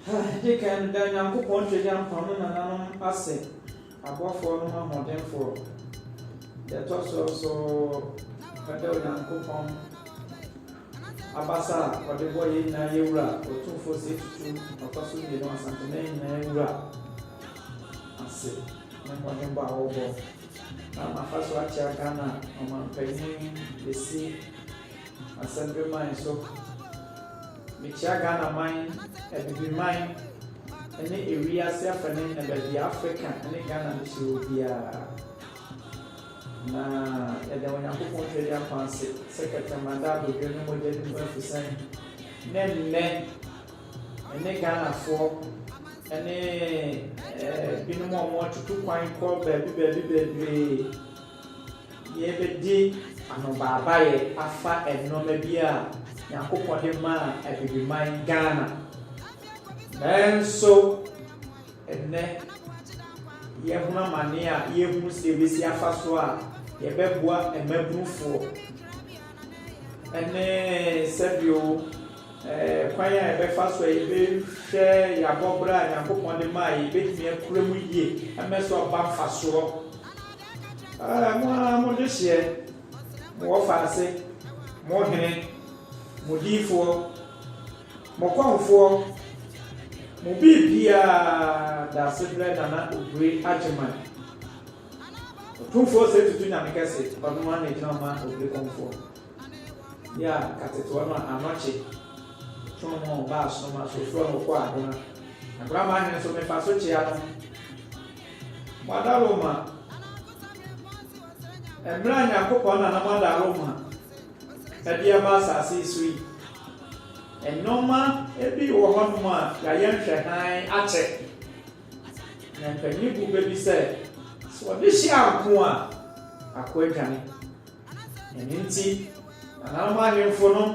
Ha, gye kan no, da Nyankopɔn Twagyankpɔn no nananom ase, abɔfoɔ nom ahoɔdenfoɔ. Deɛ ɛtɔ soɔ nso, da Onyankopɔn abasa a Ɔde bɔɔ yɛn nyinaa, yɛn Wura, Otumfoɔ Sei Tutu, Ɔtɔ so Mmienu, Asanteman nyinaa Wura, ase, ne mmɔdenbɔ a wɔrebɔ na ama afa so akyea Ghana Ɔmanpanin Besi Asɛmbeman so. Mekyia Ghanaman, Abibiman ne ewiase afane na baabi a Afrika ne Ghana no si wɔ biara. Na yɛda Onyankopɔn Tweaduampɔn ase sɛ Kɛtrɛma da abodwoɔ ne mogya no mu afusan ne nnɛ ɛne Ghanafoɔ ne binom a wɔatutu kwan kɔ baabi baabi bebree. Yɛrebɛdi anobaabaeɛ afa nnoɔma bi a Nyankopɔn de maa Abibiman Ghana. Nanso ɛnnɛ yɛhunu amaneɛ a yɛnhunu sɛdeɛ yɛbɛsi afa so a yɛbɛboa mmabunufoɔ ne sɛdeɛ kwan a yɛbɛfa so a yɛbɛhwɛ yɛabɔberɛ a Nyankopɔn de maa yɛn yɛbɛtumi akura mu yie ama so aba mfasoɔ. Aa mo ara mo dehyeɛ, mo wɔfaase, mo hene, mo diifoɔ, mo kɔmfoɔ, mo biribiara daasebrɛ Nana Obiri Agyeman. Ɔtumfoɔ sɛ tutu nyame kɛse, ɔno ara na ɛgyina ma Obiri kɔmfoɔ. Yɛ a kateteɔ no a anɔkye, twono no ɔba asono ma sofoɔ no ɔkɔ agona. Agona ma ahene so mefa so kyea no. Moada Roma. Mmerɛ a Nyankopɔn na na moada Roma ɛde aba asase yi so yi, nnoɔma bi wɔ hɔ nom a yɛayɛ nhwɛ hann akyɛ. Na mpanin bu bɛ bi sɛ, sɛ wɔde hyɛ anko a, akoa dwane. Ɛno nti, nananom ahemfo nom,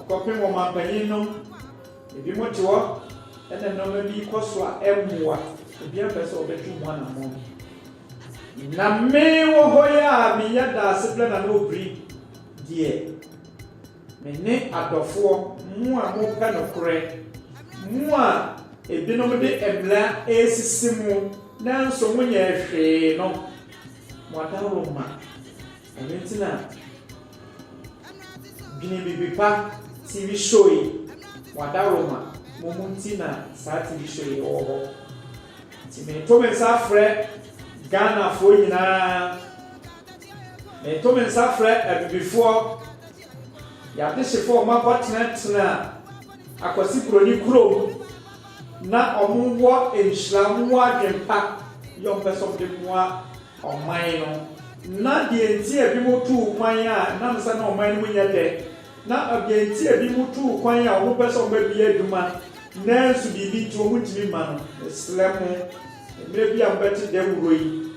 kɔpem ɔmanpanin nom, Ebinom te hɔ na nneɛma bi kɔ so a ɛmmoa. Obiara mpɛ sɛ ɔbɛtwe ho anammɔn. Na me wɔ hɔ yi a meyɛ Daasebrɛ Nana Obiri deɛ, me ne adɔfoɔ, mo a mopɛ nokorɛ, mo a ebinom de mmara resisi mo nanso monyɛɛ hwee no, mo adaworoma. Ɛno nti na Dwene Biribi Pa TV show yi wada Roma mo mu nti na saa TV show yi wɔ hɔ. Nti meto me nsa frɛ Ghanafoɔ nyinaa, meto me nsa frɛ Abibifoɔ, yɛadehyefoɔ a wɔakɔtenatena Akwasi Buroni kurom na wɔwɔ nhyira, wɔwɔ adwene pa, yɛ wɔpɛ sɛ wɔde mmoa ɔman no, na deɛ nti a ebinom tuu kwan a ɛnam sɛ na ɔman no mu nyɛ dɛ, na deɛ nti a ebinom tuu kwan a wɔpɛ sɛ wɔbɛbea adwuma nanso biribi nti wɔntumi mma no. Mesrɛ mo, mmerɛ bi a mobɛte dawuro yi,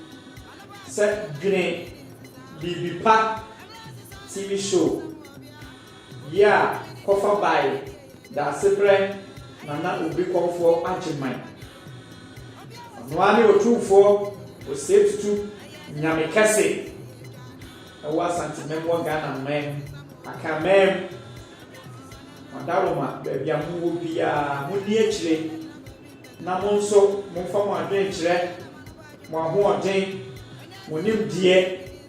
sɛ dwene biribi pa TV show Yea, kɔfa bae, Daasebrɛ na na obi kɔmfoɔ agye man. Ɔno ara ne Otumfoɔ Osei Tutu Nyame kɛse ɛwɔ Asante Mam wɔ Ghana man Akan mam. Madaroma baabi a mo wɔ biara mo nni akyire na mo nso momfa mo adwene kyerɛ mo ahoɔden, mo nimdeɛ,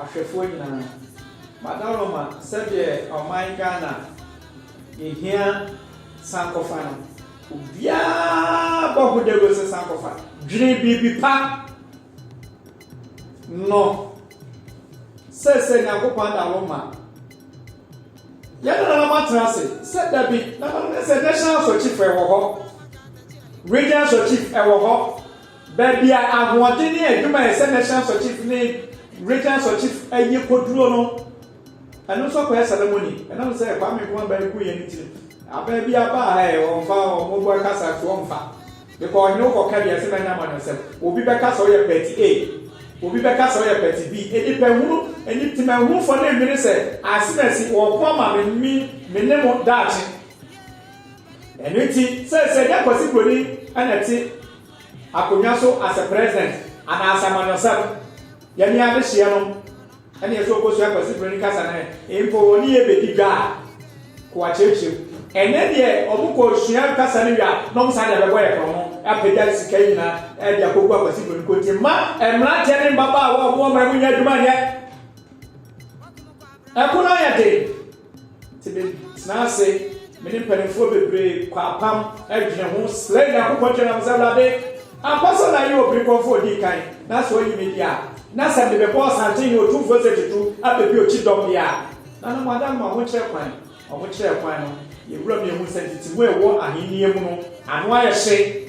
ahwɛfoɔ nyinaa. Madawloma sɛdeɛ ɔman Ghana yɛhia sankɔfa no obiara bɔ ho dawuro sɛ sankɔfa dwene biribi pa no sɛsɛ Nyankopɔn adawloma yɛn nananom atena ase sɛ dabi nananom sɛ national asɔkyifo ɛwɔ hɔ regional asɔkyif ɛwɔ hɔ Baabi a ahoɔden ne adwuma a ɛyɛ sɛ National Sɔkyif ne Regional Sɔkyif yɛ kɔduro no, ɛno nso akɔyɛ ceremony. Ɛnam sɛ Kwame Nkrumah bɛn ko yɛ no nti no, abaa bi aba a ɛɛ wɔmfa wɔn bɔ kasa so wɔmfa. Bikɔ ɔhene wo kɔka bi ɛsɛ mɛnya amanyɔsɛm. Obi bɛka sɛ ɔyɛ party A, obi bɛka sɛ ɔyɛ party B. Nipahunu, nip, temanhunfoɔ no nwene sɛ ase na asi wɔko ama me, me, me ne mo daakye. Ɛno nti, seesei ɛnyɛ Kwasi Broni na ɛte. Akonnwa so ase president anaase amanyɔsɛm yɛ ne adehyeɛ no ɛneɛ so ɔkɔsua Kwasi Broni kasa no ɛ mpo ɔne yɛ bɛdi dwa a ko akyerɛkyerɛ mu. Ɛnɛ deɛ ɔmo kɔ sua kasa no wie a na ɔmo san de abɛbɔ yɛ korɔno apagya sika yi nyinaa de akɔgu Akwasi Broni konti mma mmeranteɛ ne mmabaawa ɔmo ɔmo ɛmo nyɛ adwuma nyɛ ɛko no ayɛ den. Nti me tena ase, me ne mpaninfoɔ bebree kɔ apam dwene ho srɛ Nyankopɔn kyɛ na mo sɛ, Awurade, ampa sɛ na yɛ obiri kɔmfoɔ ɔdii kan, na sɛ ɔyi me deɛ a, na sɛ me bɛbɔ ɔsanten ne otumfoɔ sɛ tutu abɛ bi okyi dɔm deɛ a. Na na mo ada no mo ahokyerɛ kwan. Wɔn kyerɛɛ kwan no, yɛ wura miehuu sɛ ntete mu a ɛwɔ ahennie mu no ano ayɛ hye.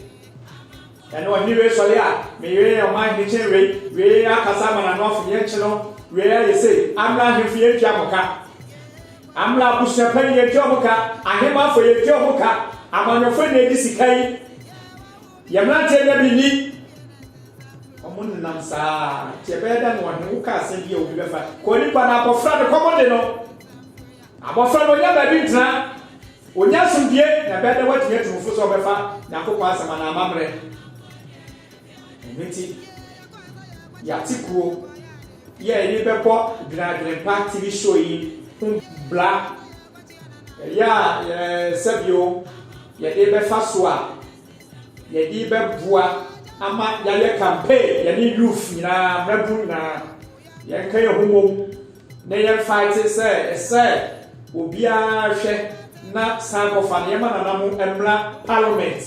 Ɛnna ɔhene wei sɔree a, Me yere ne ɔman hene kyɛn wei, wei akasa ama n'ano afo, yɛnkye no, wei ayɛ sei, Amla ahemfo yɛntua mo ka, Amla abusua panyin yɛntua wɔn ka, ahemmanfo yɛntua wɔn ka, amanyɔfo nna edi sika yi, yɛn mmeranteɛ nna bi nni. Wɔn nenam saa ara, nti ɛbɛyɛ dɛn na ɔhene wo ka asɛm bi a obi bɛfa, kɔ nipa na abɔfra ne kɔm de no, Abɔfra no ɔnya baabi ntena, ɔnya asomdwoeɛ, na ɛbɛyɛ dɛ watumi atu no fo sɛ ɔbɛfa Nyankopɔn Asɛm anaa amammerɛ. Ɛno nti, yɛate kuo yi a yɛde bɛbɔ Dwene Adwenempa TV show yi ho bra. Ɛyɛ a yɛsɛ bio yɛde bɛfa so a yɛde bɛboa ama yɛayɛ campaign, yɛne youth nyinaa, mmabunu nyinaa, yɛnka yɛn ho mmom. na yɛmfa ete sɛ ɛsɛ obiara hwɛ na san kɔfa no yɛma nana mo mmra parliament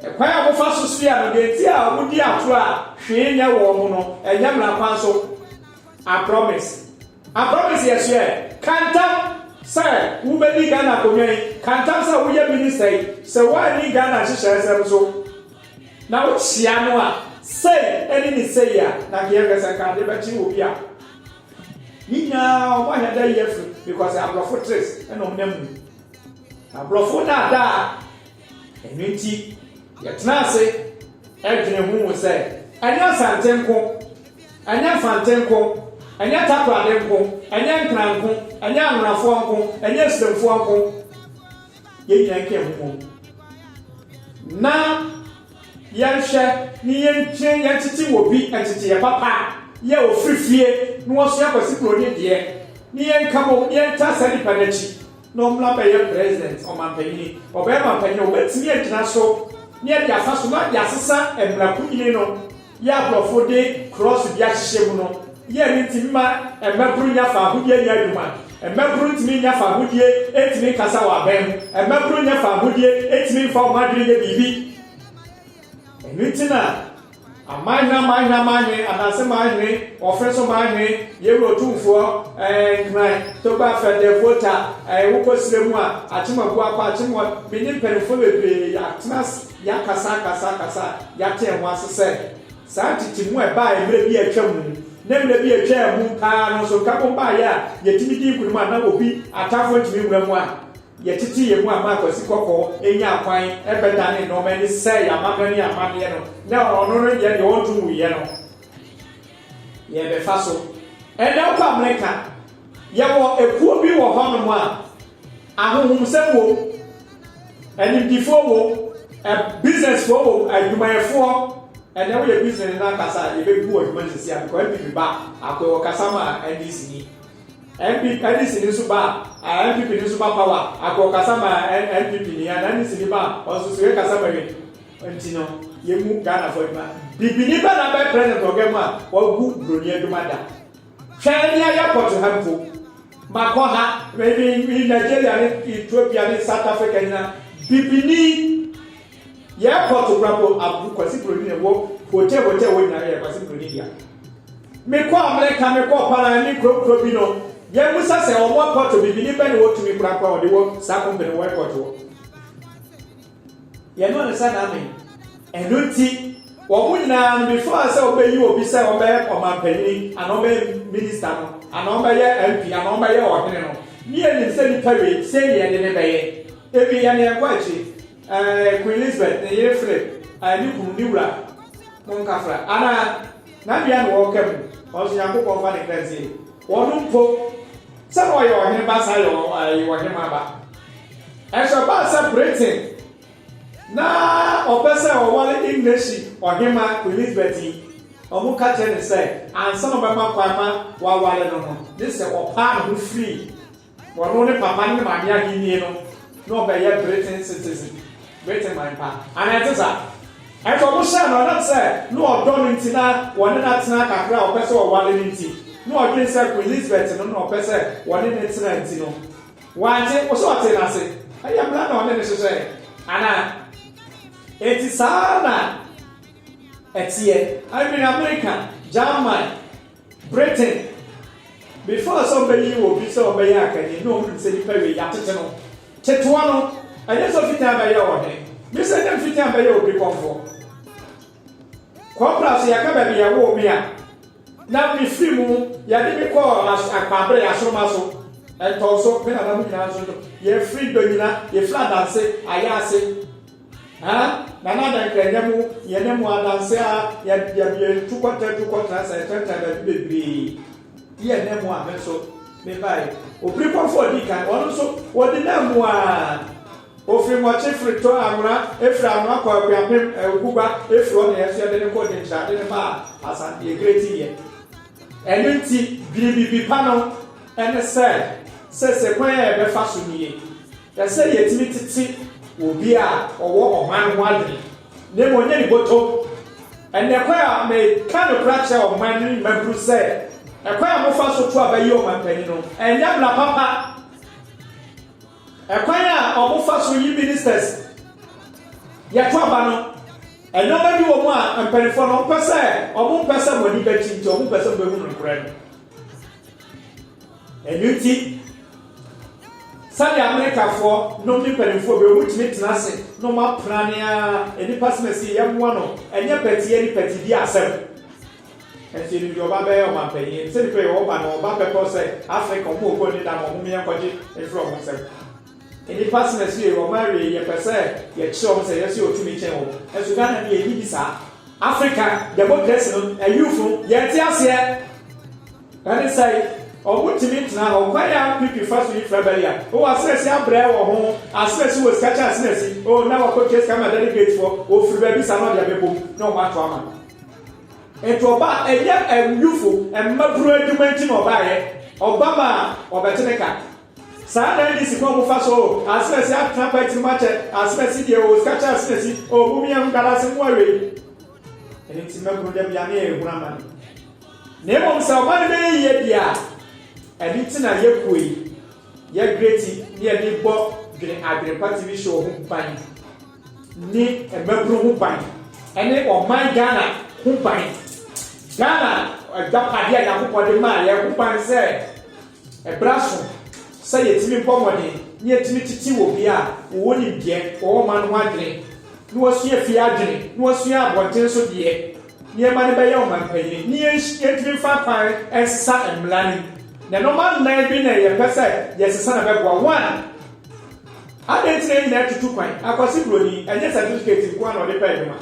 ɛkwan a wɔfa so soa no deɛ nti a wɔn di atorɔ a hwee nyɛ wɔn mo no ɛnyɛ mmra kwan so I promise I promise yɛ soɛ kantam sɛ wobɛdi Ghana akonnwa yi kantam sɛ woyɛ minister yi sɛ woanni Ghana nhyehyɛɛ sɛm so. Na wo kyea no a, sei ɛne ne sei a, na nka yɛ kasa nka ade bɛkye obi a. Ne nyinaa ɔmo ahɛ dɛ yɛ fri because abrɔfo tres ɛna ɔmo nam mu. Na brɔfo na ada a. Ɛno nti yɛ tena ase ɛdwene ho hu sɛ ɛnyɛ Asante nko, ɛnyɛ Mfante nko, ɛnyɛ Takorade nko, ɛnyɛ Nkran nko, ɛnyɛ Anwonafoɔ nko, ɛnyɛ Esremfoɔ nko. yɛn nyinaa nka yɛn ho ho na yɛnhwɛ ne yɛntwe yɛntete wɔ bi nteteeɛ papa a yɛ a ɔfiri fie na wasua Kwasi Broni deɛ ne yɛnka bɔ ne yɛntaa saa nipa no akyi na ɔmmra bɛyɛ president ɔmampanyini ɔbɛyɛ mampanyini a wɔbɛtumi agyina so ne yɛde afa so na yɛasesa mmara kunyini no Yɛ a nkurɔfo de krɔɔso bi ahyehyɛ mu no yɛ no ntumi mma mmaburu nnya fahodie nyɛ adwuma. Mmaburu ntumi nnya fahodie ntumi nkasa wɔ abɛn ho. Mmaburu nnya fahodie ntumi mfa wɔn adwene nyɛ biribi. Ɛno nti na aman hene aman hene aman hene, Adanse man hene, Wɔfere so man hene, Yewura Otumfoɔ, ɛɛ, Nhran, Togba Afɛ, Dɛ Volta, ɛɛ, wokɔ serɛ mu a, Akyem Abuakwa, Akyem Wɔ, me ne mpanimfoɔ bebree, yɛatena ase. Yɛakasaakasaakasa a yɛatee ho ase sɛ saa ntetemu a ɛbae mmere bi a atwam ne mmere bi a etwaa mu paa no nso nkabom bae a yetumi dii nkonim a na obi atamfo ntumi mmura mu a yɛtetee yɛn mu a Mark Asikɔkɔɔ nyaa kwan bɛdanee nneɛma ani sɛee amammerɛ ne amanneɛ no na ɔno no deɛ deɛ ɔnto nguiɛ no yɛbɛfa so ɛnɛ kɔ amene ka. Yɛwɔ ekuo bi wɔ hɔnom a Ahonhomsɛm wom, animdefoɔ wom, businessfoɔ wom, adwumayɛfoɔ, ɛnɛ woyɛ business no akasa a yɛbɛbu wɔ adwuma sisi a because NPP ba akoe wɔ kasa ma NDC ni NPP NDC ni nso ba a NPP ni nso ba power akoe wɔ kasa ma NPP ni a NDC ni ba ɔnsoso yɛ kasa ma wi nti no yɛmu Ghana fo adwuma bibini bɛ na bɛ president ɔgɛ mu a wagu broni adwuma da Hwɛ nea yɛkɔto ha mpo. Makɔ ha, me me me Nigeria ne Ethiopia ne South Africa nyina, bibini. Yɛkɔ to kora mpo abu Kwasi Broni ne wɔ hotel hotel hɔ nyina yɛ Kwasi Broni dea. Mekɔ America, mekɔ Paran ne kuro kuro bi no, yɛbusa sɛ wɔn airport bibini bɛ ne wɔtumi kora kɔ a wɔde wɔ saa company wɔ airport hɔ. Yɛne ɔne sɛ n'amen. Ɛno nti, wɔn nyinaa no, before sɛ wɔbɛyi obi sɛ ɔbɛyɛ ɔmampanin, anaa ɔbɛyɛ minista no, anaa ɔbɛyɛ MP, anaa ɔbɛyɛ ɔhene no, ne yɛnim sɛ nipa wei, sei ne yɛde no bɛyɛ. Ebi, yɛne yɛnkɔ akyiri, ɛɛ, Queen Elizabeth, ne yere Philip, ɛɛ, ne kunu, ne wura, monkafra, anaa, n'abea na wɔka mu, ɔno nso Nyankopɔn mfa ne kra nsie, wɔn mpo, Sɛ na ɔyɛ ɔhene ba saa yɛ ɔhemmaa ba. Ɛnso ɛbaa sɛ Britain na ɔpɛ sɛ ɔware Engleshi ɔhemmaa Queen Elizabeth yi, wɔka kyerɛ no sɛ ansa na ɔbɛma kwan ma waware no no, gye sɛ ɔpaa ne ho firi ɔno ne papa ne ne maame ahennie no na ɔbɛyɛ Britain citizen, Britain man pa. Anaa ɛnte saa? Ɛtɔ no hyɛ no a, na sɛ na ɔdɔ no nti na wɔne no atena kakra a ɔpɛ sɛ ɔware no nti, na ɔdwene sɛ Queen Lisbeth no na ɔpɛ sɛ wɔne no tena nti no, wante. Wo sɛ ɔtee no ase? Ɛyɛ mmara na ɔne no hyehyɛeɛ, anaa? Enti saa ara na ɛteɛ. Anuanom reka German. Britain, Before sɛ ɔbɛyi obi sɛ ɔbɛyɛ akanni na ɔhunu sɛ nipa wei yɛatete no ketewa no, ɛnyɛ sɛ ɔfiti a bɛyɛ ɔhene, me sɛ nyɛ mfiti a bɛyɛ obi kɔmfoɔ. Kɔmpra so yɛka baabi yɛwoo me a na me firi mu yɛde me kɔɔ akwabrɛ asoroma so, ɛntɔn so, me nananom nyinaa nso yɛfiri dɔ nyina, yɛfiri adanse, ayɛ ase. Haa Nana adɛn ka ɛnyɛ mo yɛne mo adanse a yɛabue tu kɔtɛ tu kɔtra sɛ ɛtɛntɛn baabi bebree ti ɛnɛ mo a me nso mebae opirikɔfo a ɔdi kan ɔno nso ɔdi na mu a ofiri mɔkye firi tɔ anwona efiri anwona kɔ akuapem ɛwugugba efiri hɔ na yɛn nso yɛde ne kɔ denkyerade ne baa asante egere ti yɛ ɛno nti biribibi pa no ɛne sɛ sɛ sɛ kwan a yɛbɛfa so nie Hwɛ sɛnea yetumi tete obi a ɔwɔ ɔman ho adwene na mmom ɔnyɛ ne bɔtɔm! Ɛnnɛ, kwan a meka nokorɛ akyerɛ ɔman no mma hunu sɛ ɛkwan a mofa so to aba yi ɔmanpanin no, ɛnyɛ mmara papa. Ɛkwan a wɔfa so yi ministers yɛ to aba no, nneɛma bi wɔ mu a mpanimfoɔ no wɔpɛ sɛ wɔmpɛ sɛ mo ani bɛkye nti wɔmpɛ sɛ mobɛhunu nokorɛ no. Ɛno nti, sɛnea Amerikafoɔ nom ne mpanimfoɔ bi, wɔtumi tena ase na wɔn apena ne ara nipa sena si yɛmmoa no, ɛnyɛ pɛteɛ ne pɛtidie asɛm. Ɛnso yɛnim deɛ ɔba bɛyɛ ɔmanpanyin, sɛ nipa yɛ ɔba na ɔba bɛpɛ sɛ Afrika wɔn ɔkɔ ne da ma wɔn yɛ nkɔgye mfiri wɔn nsam. Nipa sena si yɛ ɔma awie yɛpɛ sɛ yɛkyerɛ wɔn sɛ yɛsɛ ɔtumi kyɛn wɔn, ɛnso Ghana deɛ ɛnni bi saa. Afrika demokrasi no, ayuth no, yɛnte aseɛ. Ɛne sɛ, wɔntumi ntena hɔ. Kwan a PP fa so yi fra bɛyɛ a, oh, asinasin abrɛ wɔ ho, asinasin wɔ sika kyɛ asinasin, oh, na wɔakɔtua sika ama delegate foɔ, wɔfiri baabi saa na wɔde abɛbɔ mu na wɔn ato ama. Nti ɔbaa, ɛnyɛ awufo, mmabunu adwuma nti na ɔbaeɛ, ɔba ma a, wɔbɛte ne ka. Saa na NDC kwan wɔfa so, oh, asinasin atena party no mu akyɛ, asinasin deɛ, oh, sika kyɛ asinasin, oh, momia ho nkalaase, moa wei. Ɛno nti mmabunu da biara ne yɛrehunu amane. Na mmom sɛ ɔma no bɛyɛ yie deɛ a, ɛno nti na yɛpue, yɛgreti ne yɛde rebɔ Dwene Adwenepa TV show ho ban ne mmabunu ho ban ne ɔman Ghana ho ban. Ghana agyapadeɛ a Nyankopɔn de maa yɛn ho ban sɛ ɛbra so sɛ yɛtumi bɔ mmɔden ne yɛtumi tete wɔ bi a wɔwɔ nimdeɛ wɔwɔ ɔman ho adwene na wɔasua fie adwene na wɔasua abɔnten so deɛ Nneɛma no bɛyɛ ɔmampanyin na yɛntumi mfa kwan nsa mmla no mu. Na nneɛma nnan bi na yɛpɛ sɛ yɛsesa na ɛbɛboa. One, adɛn nti na yɛn nyinaa tutu kwan? Akwasi Buroni, ɛnyɛ sɛtifikɛti nko ara na ɔde pɛ adwuma.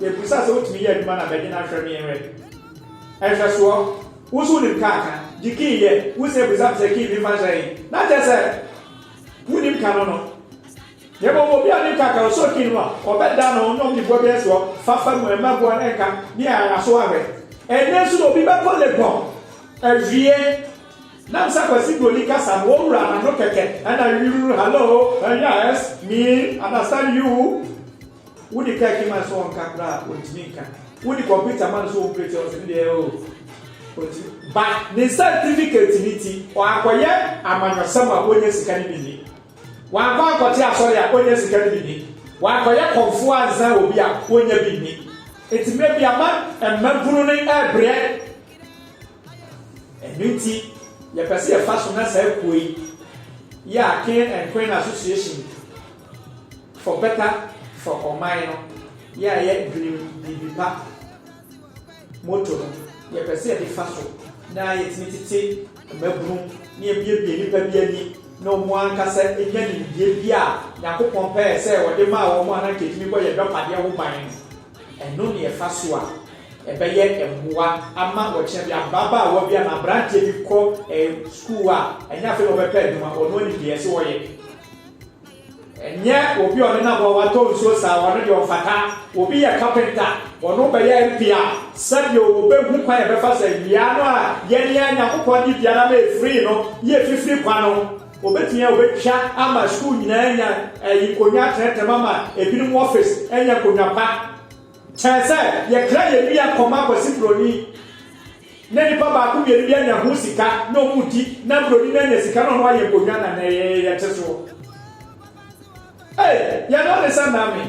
Yɛbisa sɛ wotumi yɛ adwuma no a, bɛgye no ahwɛ me yɛnhwɛ. Nhwɛsoɔ, wo nso wonim kaa ka, gye kii yɛ, wosia bisa me sɛ kii memfa nhyɛ he? Na kyerɛ sɛ wonnim ka no no. Na mbom obi a ne nka ka osooki no mu a, ɔbɛda no ho na ɔdze boa bi asoa fafa mu, mma boa no nka ne aso ahwɛ. Ndɛ so na obi bɛkɔ Legon ewie na nsa Kwasi Broni kasa no, ɔwura n'ano kɛkɛ na yururu, Hallo, eh, yes, me, understand you. Wo de car kima no so ɔnka koraa a, onntumi nka. Wo de computer ma no so ɔmpreti a, ɔse ne deɛ oh, onntumi. But ne certificate no ntsi, ɔakɔyɛ amanyɔsɛm a onnya sika no bi nnyi. Wankɔ ankɔte asɔre a onnya sika no bi nni. Wankɔyɛ kɔmfoɔ ansa obi a onnya bi nni. Enti mmerɛ bi ama mmabunu no rebrɛ. Ɛno nti yɛpɛ sɛ yɛfa so na saa kuo yi yɛ a King and Queen Association for Better for Ɔman no yɛ a yɛdwenem biribi pa. Moto no, yɛ pɛ sɛ yɛde fa so na yɛtumi tete mmabunu na yɛbuebue nnipa bi ani na wɔn ankasa nya nimdeɛ bi a Nyankopɔn pɛɛ sɛ ɔde maa wɔn a na anka ɛtumi bɔ yɛn dɔpadeɛ ho ban no. Ɛno ne ɛfa so a ɛbɛyɛ mmoa ama ɔkyena bi ababaawa bi anaa abranteɛ bi kɔ sukuu a ɛnyɛ afei na ɔbɛpɛ adwuma, ɔno anim deɛ ɛsɛ ɔyɛ. Ɛnyɛ obi a ɔde n'aboa watɔ nsuo saa, ɔno deɛ ɔmfata. Obi yɛ kapenta, ɔno bɛyɛ mpe a, sɛdeɛ ɔbɛhu kwan a ɛbɛfa sɛ nnua no a yɛn yɛn Nyankopɔn de dua no ama ɛfirii no ne afifiri kwa no, ɔbɛtumi a ɔbɛtwa ama sukuu nyinaa anya ayi nkonnwa atenetene ama ebinom wɔfese anya nkonnwa pa kyɛn sɛ yɛkra yɛn nnua kɔma kwasibroni. Na nipa baako mmienu bi anya ho sika na ɔmo di na broni no anya sika na ɔno ayɛ nkonnwa na nɛ yɛte soɔ ei yɛn no ɔde sɛ name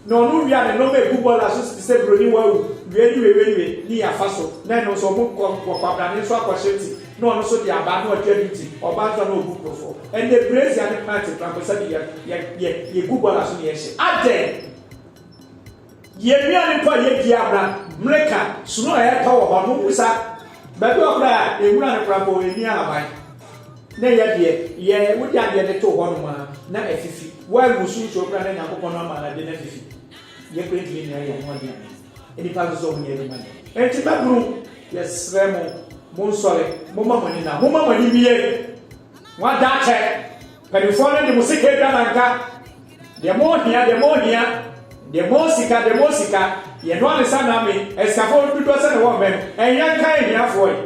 na ɔno wia ne nɔma egu bɔla so te sɛ broni wawu wia ni wia wia ni yɛ afa so na ɛno nso ɔmo kɔ nkɔ kwabrane nso akɔ hyɛ ti na ɔno nso de aba na ɔtwa di ti ɔba nso na ɔgu nkurɔfoɔ ɛnɛ brezia ne pant mprako sɛ de yɛ yɛ yɛ yɛ gu bɔla so na yɛhyɛ adɛn. Yɛn nnuane mpo a yedi abena, mmirika, sono a ɛtɔ wɔ hɔ no, wommisa. Baabi wɔ hɔ koraa a, nwura no koraa mpo, enni ahaban. Na ɛyɛ deɛ, yɛ, wode adeɛ de too hɔnom ara, na afifi. Woangu so nsuo koraa na Nyankopɔn no ama ade no afifi. Yɛn koraa yɛntumi nnoa yɛn ho aduane. Nnipa nso sɛ wɔnyɛ adwuma nyɛ. Enti mmabunu, yɛsrɛ mo, monsɔre, momma mo ani nna. Momma mo ani nnye. Moada atɛ. Mpanyimfoɔ no de mo sika atwa nanka, deɛ mohia, deɛ mohia, deɛ mo sika, deɛ mo sika, yɛnoa ne nsa name, asikafoɔ no dodoɔ sɛn na ɛwɔ mmɛ no, ɛnyɛ nka ahiafoɔ yi,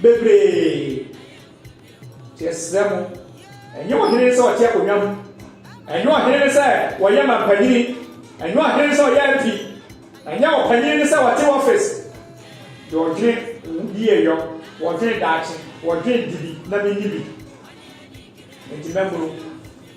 bebree, nti yɛsrɛ mo, ɛnyɛ ɔhene no sɛ ɔte akonnwa mu, ɛnyɛ ɔhene no sɛ ɔyɛ mampanyini, ɛnyɛ ɔhene no sɛ ɔyɛ MP, ɛnyɛ ɔpanyin no sɛ ɔte office, deɛ ɔdwene yieyɔ, ɔdwene daakye, ɔdwene dibi na menni bi. Enti mɛboro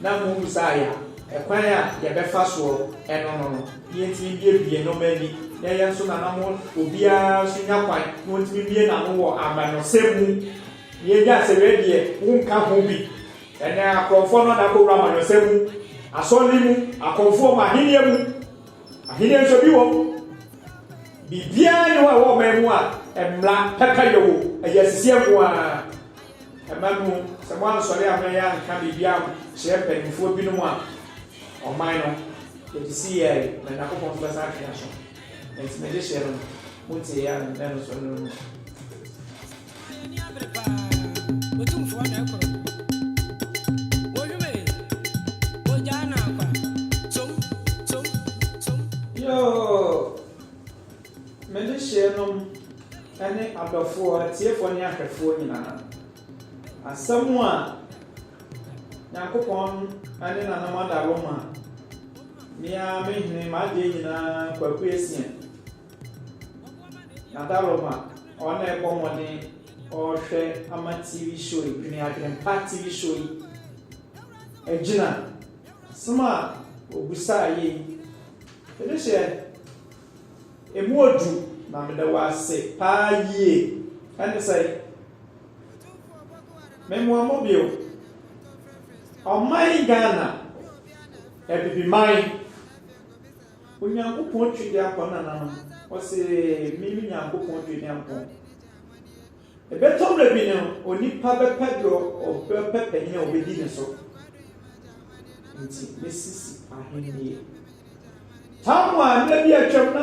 na mobisa yɛn ɛkwan a yɛbɛfa soɔ ɛno no no na yɛntumi mbue bue no ma ani na ɛyɛ nso na na mo obiara nso nya kwan na ɔntumi mmue n'ano wɔ amanyɔsɛm mu na yɛnya sɛ wɛ deɛ wonka ho bi ɛnɛ akorɔmfoɔ no ada kɔwura amanyɔsɛm mu asɔre mu akɔmfoɔ mu ahenniɛ mu ahenniɛ nso bi wɔ biribiara ne wɔ ɛwɔ ɔman mu a mmara pɛpɛ yɛ wɔ ɛyɛ asisiɛ nko ara Ɛba no, sɛ moansɔre ammɛyɛ anka biribi ankyerɛ mpanimfoɔ binom a, ɔman no, yɛte se yɛɛe, na Nyankopɔn nso bɛsan atwe yɛn aso. Enti me dehyeɛ no, montie yɛn a nnɛ no so no mu. Yoo! Me dehyeɛnom ne adɔfoɔ, atiefoɔ ne ahwɛfoɔ nyinaa, asɛm a Nyankopɔn ne Nanam Adaro ma me ara me hene m'adeɛ nyinaa Kwaku Essien Nadaroma ɔɔ na ɛbɔ mmɔden ɔɔhwɛ ama TV show yi, Dwene Adwenempa TV show yi agyina, asɛm a ɔbusaa yɛ yi, Ɛno hyɛ emu odu na meda wo ase paa yie. Ɛne sɛ memoa mo bio. Ɔman Ghana, Abibiman, Onyankopɔn Twediampɔn nananom, ɔse me me Nyankopɔn Twediampɔn. Ɛbɛtɔ mmerɛ bi no, onipa bɛpɛ deɛ ɔbɛpɛ panin a ɔbɛdi ne so. Nti mɛsisi ahennie. Tam a mmerɛ bi a atwam na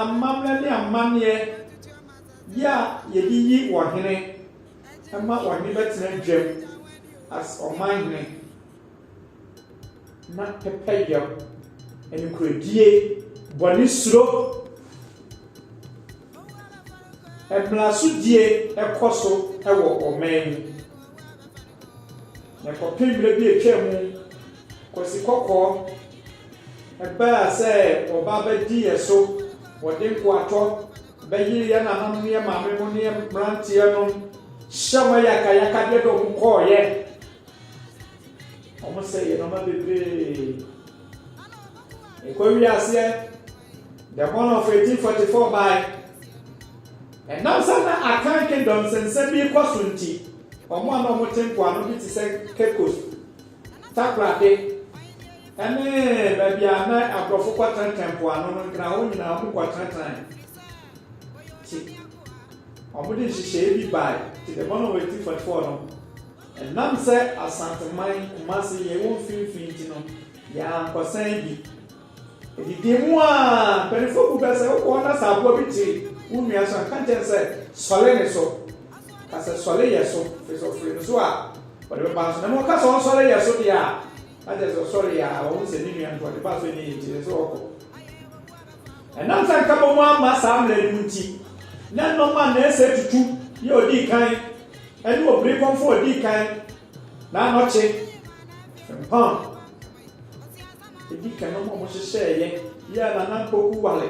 amammerɛ ne amanneɛ yɛ a yɛde yi ɔhene ma ɔhene bɛtena dwam as ɔmanhene. na pɛpɛyɛ, nokorɛdie, bɔne suro, mmrasodie kɔ so wɔ ɔman mu. Na kɔpem berɛ bi atwa mu, Kwasi Kɔkɔɔ baa sɛ ɔba bɛdi yɛ so, wɔde nkoatɔ bɛyere yɛ nananom ne yɛ maame mo ne yɛ mmeranteɛ nom, hyɛ wɔn ayakayakadeɛ de wɔn kɔɔeɛ, Ɔmo sɛ yɛ nɔma bebree. Ɛkɔ wiaseɛ the born of 1844 bae. Ɛnam sɛ na Akan Kingdom nsɛnsɛm bi kɔ so nti, ɔmo a na ɔmo te mpoano bi te sɛ Cape Coast, Takorade, ɛne baabi a na aborɔfo kɔ tenatena mpoano no nkena hɔ nyinaa ɔmo kɔ tenatenae. Ti, ɔmo de nhyehyɛe bi bae ti the born of 1844 no. Ɛnam sɛ Asanteman, Kumasi, yɛ ɛwɔ mfimfini nti no, yɛankɔsɛe bi. Adidie mu a, mpanimfoɔ bu bɛ sɛ wokɔ hɔ na sɛ aboa bi te wo nua so a, nka nkyerɛ no sɛ, Sɔre ne so. Ka sɛ, Sɔre yɛ so, ɛfiri sɛ ɔfiri ne so a, ɔde bɛba nso. Na mmom woka sɛ ɔnsɔre yɛ so deɛ a, na kyerɛ sɛ ɔsɔreeɛ a, wahu sɛ ne nua no nti ɔde baa so, ɛnneɛ enti ɛsɛ sɛ ɔkɔ. Ɛnam sɛ nkabom no amma saa mmara no mu nti, na nnɔm a nnansa atutu yɛ a odii kan ne obirikɔmfo a odii kan na anɔkye fempam edi kan nnɔm a wɔhyehyɛeɛ yɛ a na Nampoku ware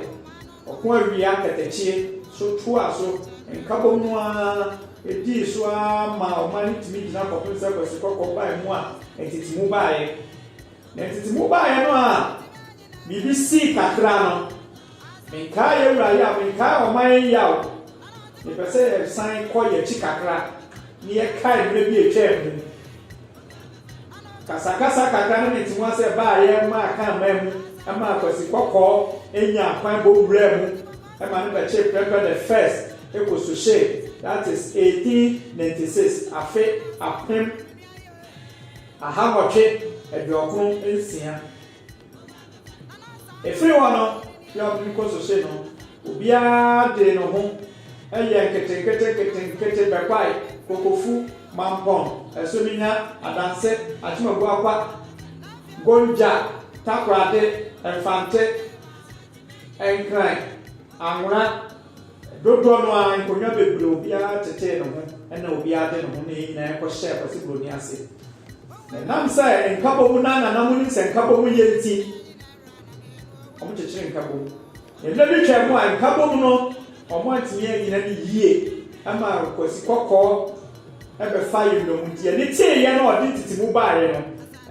ɔko awia katakyie so toaa so nkabom no ara dii so ara maa ɔman no tumi gyina kɔpem sɛ Kwasi Kɔkɔ bae mu a ntetemu baeɛ. Na ntetemu baeɛ no a Biribi sii kakra no, menkaa yɛn wura yaw, menkaa ɔman yi yaw. Mepɛ sɛ yɛsan kɔ yɛn akyi kakra na yɛkae mmerɛ bi a ɛtwaa mu. Kasakasa kakra na mente mu ase ɛbaa yɛn maa kan maa mu maa Kwasi Kɔkɔɔ nya kwan bɔ wuraa mu ma no bɛkyee Prɛmpɛ the First kɔ Suhyɛ, that is 1896, afe apem aha nwɔtwe aduokron nsia. Ɛfiri hɔ no, firi a wɔtumi kɔ sose no, obiara dee ne ho yɛɛ nketenketenketenkete bɛkwae, Kokofu, Mampong, Ɛsominya, Adanse, Akyemabuakwa, Gonja, Takorade, Mfante, Nkran, Anwona, Dodoɔ no ara, nkonnwa bebree, obiara tetee ne ho, ɛnna obiara de ne ho ne yɛn nyinaa kɔhyɛɛ Kwasi Buroni ase. Na ɛnam sɛ Nkabom na na na monim sɛ Nkabom yɛ nti, wɔkyekyeree Nkabom. Na mmerɛ bi twaa mu a Nkabom no, wɔantumi annyina no yie ma Kwasi Kɔkɔɔ bɛfaa yɛn nnommum nti, yɛn ani teeɛ na ɔde ntetemu baeɛ no,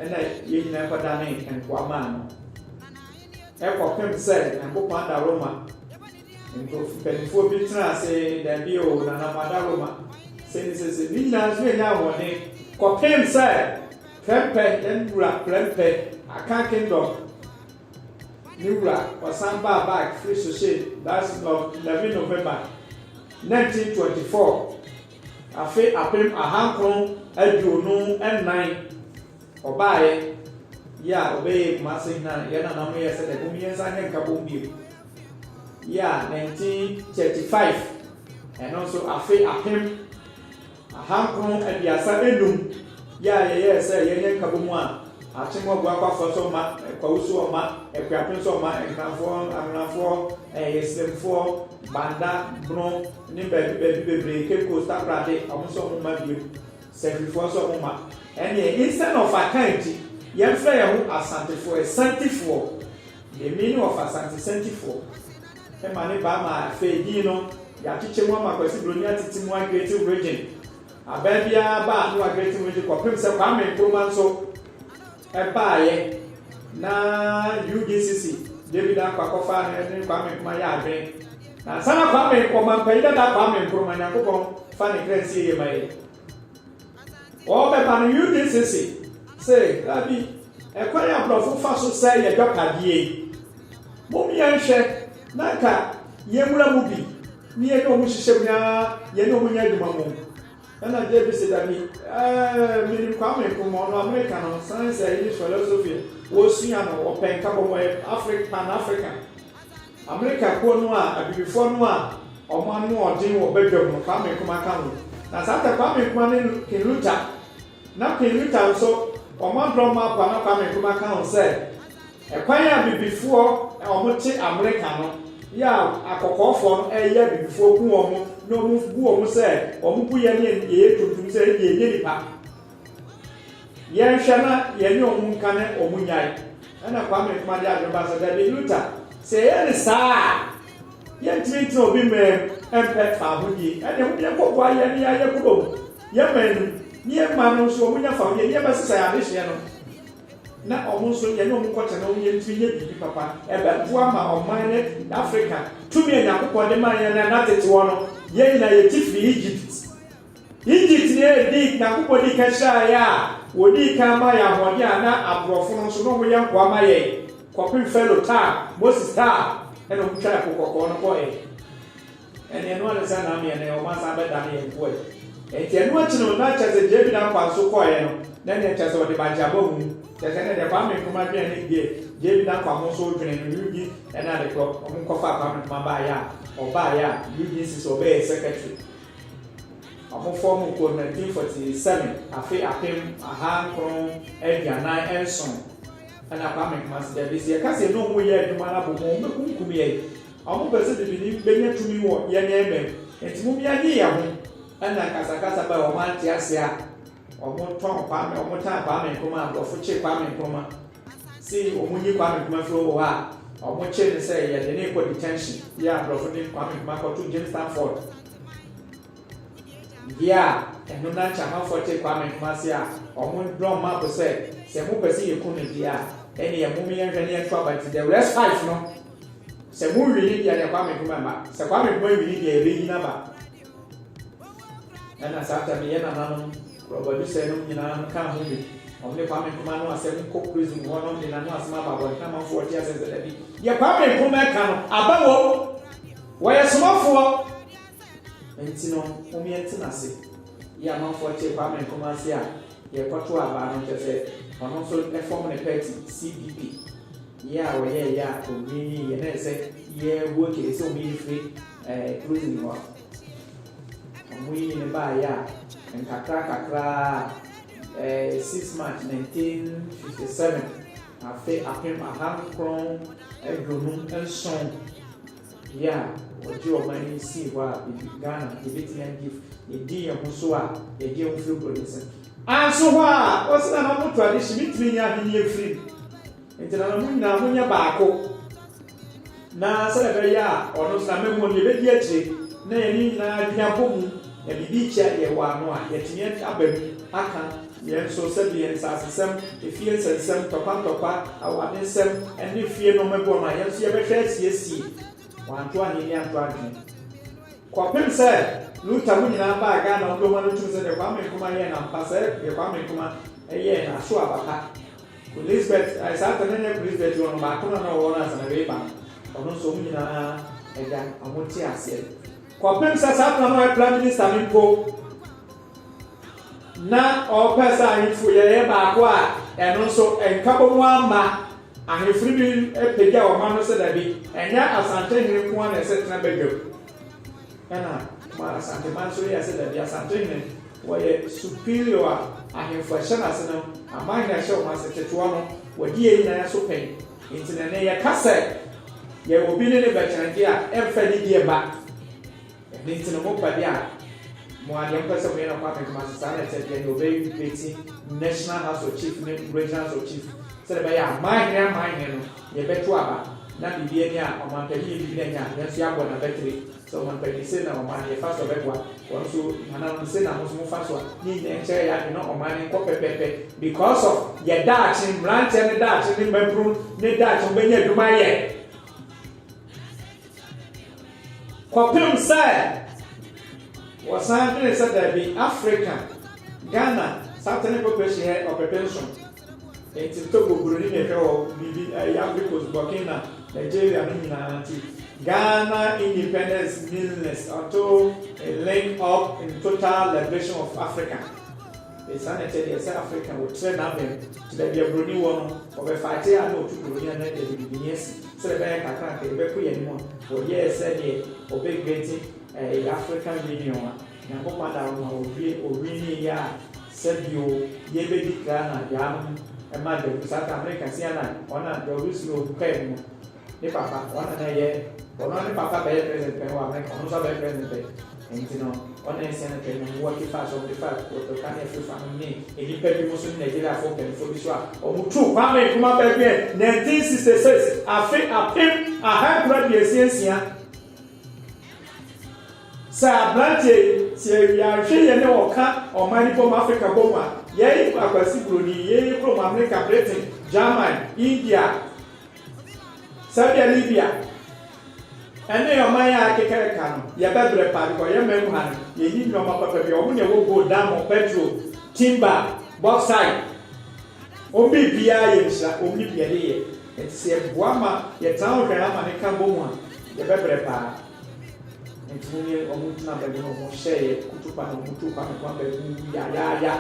ɛnna yɛn nyinaa kɔdanee nkoa maa no. Ɛkɔpem sɛ Nyankopɔn adaworoma. Nkurɔfo mpanimfoɔ bi tenaa ase, Dabi o, Nana Madaroma, sei ne seesei. Ne nyinaa nso yɛnyaa ahoɔden kɔpem sɛ Prempeh, yɛn wura Prempeh, Akan Kingdom ne wura, ɔsan baa back firi Sohyɛ, that's Nov. 11 November 1924, afe apem ahankron aduonu nnan, ɔbaeɛ, yɛ a ɔbɛyɛɛ Kumase hene a yɛn nananom yɛɛ sɛ dɛ, mom yɛnsan nyɛ nkabom bio. Year nineteen thirty five, ɛno nso afe apem ahankron aduasa enum, yɛ a yɛyɛɛ sɛ yɛnyɛ nkabomu a akyem ɔbo akwafoɔ so ɔma, kwawu so ɔma, akuapem so ɔma, nhenafoɔ, anhonafoɔ, ɛsremfoɔ, banda, bono, ne baabi baabi bebree, Cape Coast, Takorade, wɔn nso wɔn mma biom, Sefwifoɔ nso wɔn mma. Ɛneɛ instead of Akan nti, yɛmfrɛ yɛn ho Asantefoɔ, Asantifoɔ. Yemi ne ɔfa Asante Santifoɔ ma ne ba ma afei din no yɛakyekyɛ mu ama Kwasi Broni atete mu Aggreytim Region. Abaa biara ba no Aggreytim Region kɔpem sɛ Kwame Nkrumah nso baaeɛ na UGCC David Ankwa kɔfaa no ne Kwame Nkrumah yɛ adwene na ansa na Kwame, Ɔmampayi dada Kwame Nkrumah, Nyankopɔn fa ne kra nsie yɛ ma yɛn. Wɔbɛba no UDC se se daabi, ɛkwan a brɔfo fa so sɛe yɛ dwapadeɛ yi, mom yɛnhwɛ na nka yɛnwura mu bi ne yɛne ɔmo nhyehyɛm na yɛne ɔmo nyɛ adwuma mom. Ɛna JB se dabi, eh, menim Kwame Nkrumah, ɔno Amerika no, sane sɛ English philosophy wɔsua no, ɔpɛ nkabɔmu, ɔyɛ Afri, Pan African. Amerika kuo no a abibifoɔ no a wɔn anoɔden wɔ badwam no Kwame Nkrumah ka ho. Na saa tɛ Kwame Nkrumah ne King Luther na King Luther nso wɔn adrɔ map a na Kwame Nkrumah ka ho sɛ ɛkwan a abibifoɔ a wɔn te Amerika no yɛ a akɔkɔɔfoɔ no ɛyɛ abibifoɔ ku wɔn na wɔn bu wɔn sɛ wɔn gu yɛ ne yɛyɛ tuntum sɛ ɛdeɛ ɛnyɛ nipa. Yɛnhwɛ na yɛnye ɔmo nka na ɔmo nyae. Ɛna Kwame Nkrumah de adwene baa sɛ, Dabi, Luther, sɛ yɛyɛ no saa a, yɛntumi ntena obi man mu mpɛ fahodie. Ɛnneɛ mom yɛnkɔboa yɛn ne yɛn ayɛkuro mu, yɛn man no mu, ne yɛn mma no nso, ɔmo nya fahodie, ne yɛbɛsesa yɛn adehyeɛ no, na ɔmo nso yɛne ɔmo nkɔtena na ɔmo yɛntumi nyɛ biribi papa. Ɛbɛboa ma ɔman ne Afrika tumi a Nyankopɔn de maa yɛn na ɛna tete hɔ no, yɛn nyinaa yɛte firii Egypt. Egyptni a edi Nyankopɔn dii kan hyiraa yɛn a odii kan maa yɛn ahoɔden a na aborɔfo no nso na wɔyɛ nkoa ma yɛn kɔpem Farao taa Moses taa ɛna wɔn twaa ɛpo kɔkɔɔ no kɔ ɛ ɛne ɛno ane sɛ nam yɛn ɛ wɔn asan bɛdane yɛn nkoa ɛ ɛnti ɛno akyi no na kyɛ sɛ JB na kwan so kɔɛ no na ɛne ɛkyɛ sɛ ɔde bagye aba hu kyɛ sɛ ɛne deɛ Kwame Nkrumah dwen ɛne deɛ JB na kwan mo nso dwen no UG ɛna adekorɔ wɔn nkɔfa Kwame Nkrumah baayɛ a ɔbaayɛ a UG nsi sɛ ɔbɛyɛ secretary Ɔhɔfoɔ mu kuo no, 1947, afe apem aha nkron aduanan nson ɛna Kwame Nkrumah si dɛ, besi yɛka sɛ yɛne ɔmo yɛ adwuma no abom a, ɔmo bɛkumkum yɛn. Ɔmo pɛ sɛ bibini bɛnya tumi wɔ yɛn mma mu, nti mom yɛnye yɛn ho. Ɛna nkasakasa baa wɔn ante aseɛ a. Ɔmo tɔn Kwame ɔmo tan Kwame Nkrumah abrɔfo kye Kwame Nkrumah se ɔmo nyi Kwame Nkrumah firi hɔ a ɔmo kye no sɛ yɛde no rekɔ detention bia abrɔfo de Kwame Nkrumah kɔto James Stanford bia ɛno na nkyɛ amanfoɔ te Kwame Nkrumah ase a ɔmo draw map sɛ sɛ mo pɛ sɛ yɛ ku no deɛ a ɛneɛ mom yɛ nhwɛ ne yɛ nto aba nti the rest five no sɛ mo wini deɛ deɛ Kwame Nkrumah mba sɛ Kwame Nkrumah wini deɛ yɛbɛyi no aba Ɛna saa tam yi yɛ nananom rɔbɔdwesɛ nom nyinaa no kaa ho bi. Wɔn ne Kwame Nkrumah ano asɛm kɔ prison hɔ nom de nano asɛm aba abɔnten amanfoɔ wɔte asɛm sɛ dabi deɛ Kwame Nkrumah ɛka no aba wɔ mu. Wɔyɛ somafoɔ nti no mom yɛ nte nase yɛ amanfoɔ te Kwame Nkrumah ase a deɛ ɛkɔto aba no nkyɛ sɛ ɔno nso ɛfɔm ne party CPP. Yɛ a wɔyɛe a wonwiinwii yɛ na ɛsɛ sɛ yɛbɔ kiri sɛ wɔyɛ firi Puritani hɔ a. Wɔyii no baeɛ a nkakrankakra ara, 6 March 1957, afe apem ahankron aduonum nson. Yɛ a ɔgye ɔman yi sii hɔ a bibi, Ghana, yɛbɛtumi agye ɛdin yɛn ho so a yɛgye ho firi bɔne nsam. Anso hɔ a wɔse na na mo tradition mentumi nyɛ ahennie firi mu nti na na mo nyinaa mo nyɛ baako na sɛdeɛ ɛbɛyɛ a ɔno nso na mɛmu ɔno yɛbɛdi akyire na yɛne nyinaa adwene abɔ mu. Na biribi rekyea deɛ ɛwɔ ano a, yɛatumi aba mu aka yɛn nso sɛdeɛ nsasesɛm, efie nsɛnsɛm, ntɔkwantɔkwa, awaade nsɛm, ne fie nnoɔma bi wɔ hɔ a, yɛn nso yɛbɛhwɛ asiesie. Wanto ahennie anto adwene. Kɔpem sɛ Luther mo nyinaa baa Ghana, mo dodoɔ no ara tum sɛ deɛ Kwame Nkrumah yɛɛ no ampa, sɛ deɛ Kwame Nkrumah yɛɛ no aso aba pa. Kulisbet, ae saa tɛm no nyɛ Kulisbet oo, no baako no a na ɔwɔ no ansa na wei reba no, ɔno nso wɔn nyinaa agya, wɔn te aseɛ. Kɔpem sɛ saa bena no ayɛ prime minister no mpo na ɔpɛ sɛ ahemfo yɛyɛ baako a ɛno nso nkabom ama ahemfo no bi pagya ɔman no sɛ dabi ɛnyɛ asante hene nko na ɛsɛ tena badwam ɛna ma asante man nso yɛ sɛ dabi asante hene wɔyɛ superior a ahemfo ɛhyɛ no ase no aman hene ɛhyɛ wɔn ase ketewa no wɔde yɛ nyinaa so pɛn Enti na nnɛ yɛka sɛ yɛn obi ne no bɛkyɛnegye a, ɛmfa nidi mma. Ɛno nti no, mo pɛde a mo ara deɛ mopɛ sɛ moyɛ no Kwame Kumase, saa na ɛteɛ, deɛ nea ɔbɛrepleti National House of Chief ne Regional House of Chief, sɛdeɛ ɛbɛyɛ a Amanhene Amanhene no, yɛbɛto aba na biribi ani a Ɔmanpanin yɛ biribi na anya a, yɛn nso yɛabɔ no abatiri. Sɛ ɔman panyin se na ɔman yɛ fa so a ɔbɛboa wɔn so hananom se na mo nso mo fa so a ne nyinaa nkyɛrɛ yɛ adwene na ɔman no nkɔ pɛpɛpɛ because of yɛ daakye mmeranteɛ no daakye ne mmabunu ne daakye wɔn bɛnya adwuma ayɛ kɔpem sɛ wɔsan dwene sɛ daabi Africa Ghana Southern Population yɛ ɔpɛpɛ nson Enti Togo, Buroni na ɛhwɛ wɔ biribi ɛyɛ Ivory Coast, Burkina, Nigeria no nyinaa nti Ghana independence meanless until it link up in total liberation of Africa. Enti saa na ɛteɛ deɛ sɛ Africa ɔtrɛ n'abɛn to baabi a Buroni wɔ no, ɔbɛ fighte a na ɔtu Buroni a na yɛde bibini asi sɛdeɛ ɛbɛyɛ kakra nka yɛbɛko yɛn anim a ɔyɛɛ sɛdeɛ ɔbɛ greaten ɛyɛ African Union a Nyankopɔn da wo ma ofie owin ne yɛ a sɛ bio yɛ bɛ di kra na yaa nom ɛma dɛku saa ta mre ka sia na ɔna dɛ ɔbɛ suro ɔhu kɛ mu ne papa ɔna na yɛ ɔno ne papa bɛ yɛ president pɛ wɔ America ɔno nso abɛyɛ president pɛ nti no ɔna ɛsia no kɛ nyame wɔ kifaa sɛ ɔmde fa ɔdɔ ka ne afiri fa nom ne ɛnipa bi mo so ne Nigeria foɔ kɛnfoɔ bi so a ɔmo tu Kwame Nkrumah bɛ bɛ 1966 afe apem ahankron aduasia nsia. Sɛ aberanteɛ yi, sɛ yɛwie a, hwɛ yɛne wo ka ɔman no bom, Africa bom a, yɛi Akwasi Broni, yei yɛ kurom America, Britain, German, India, Serbia, Libya, ɛne ɔman yi a akeka ɛka no, yɛbɛbrɛ paa because yɛ man mu ha no, yɛnni nnoɔma papa biara, wɔn na ɛwɔ gold, diamond, petrol, timber, bauxite, wɔn biribiara yɛ nhyira, wɔn ne bi yɛde yɛ, nti sɛ yɛboa ma yɛtaa ɔhwɛn ama no ka bom a, yɛbɛbrɛ paa. Ɔmo tumi ne ɔmo gyina baabi na ɔmo hyɛ yɛ kutupa na ɔmo tu kwan no kwan baabi wuwu yayaaya.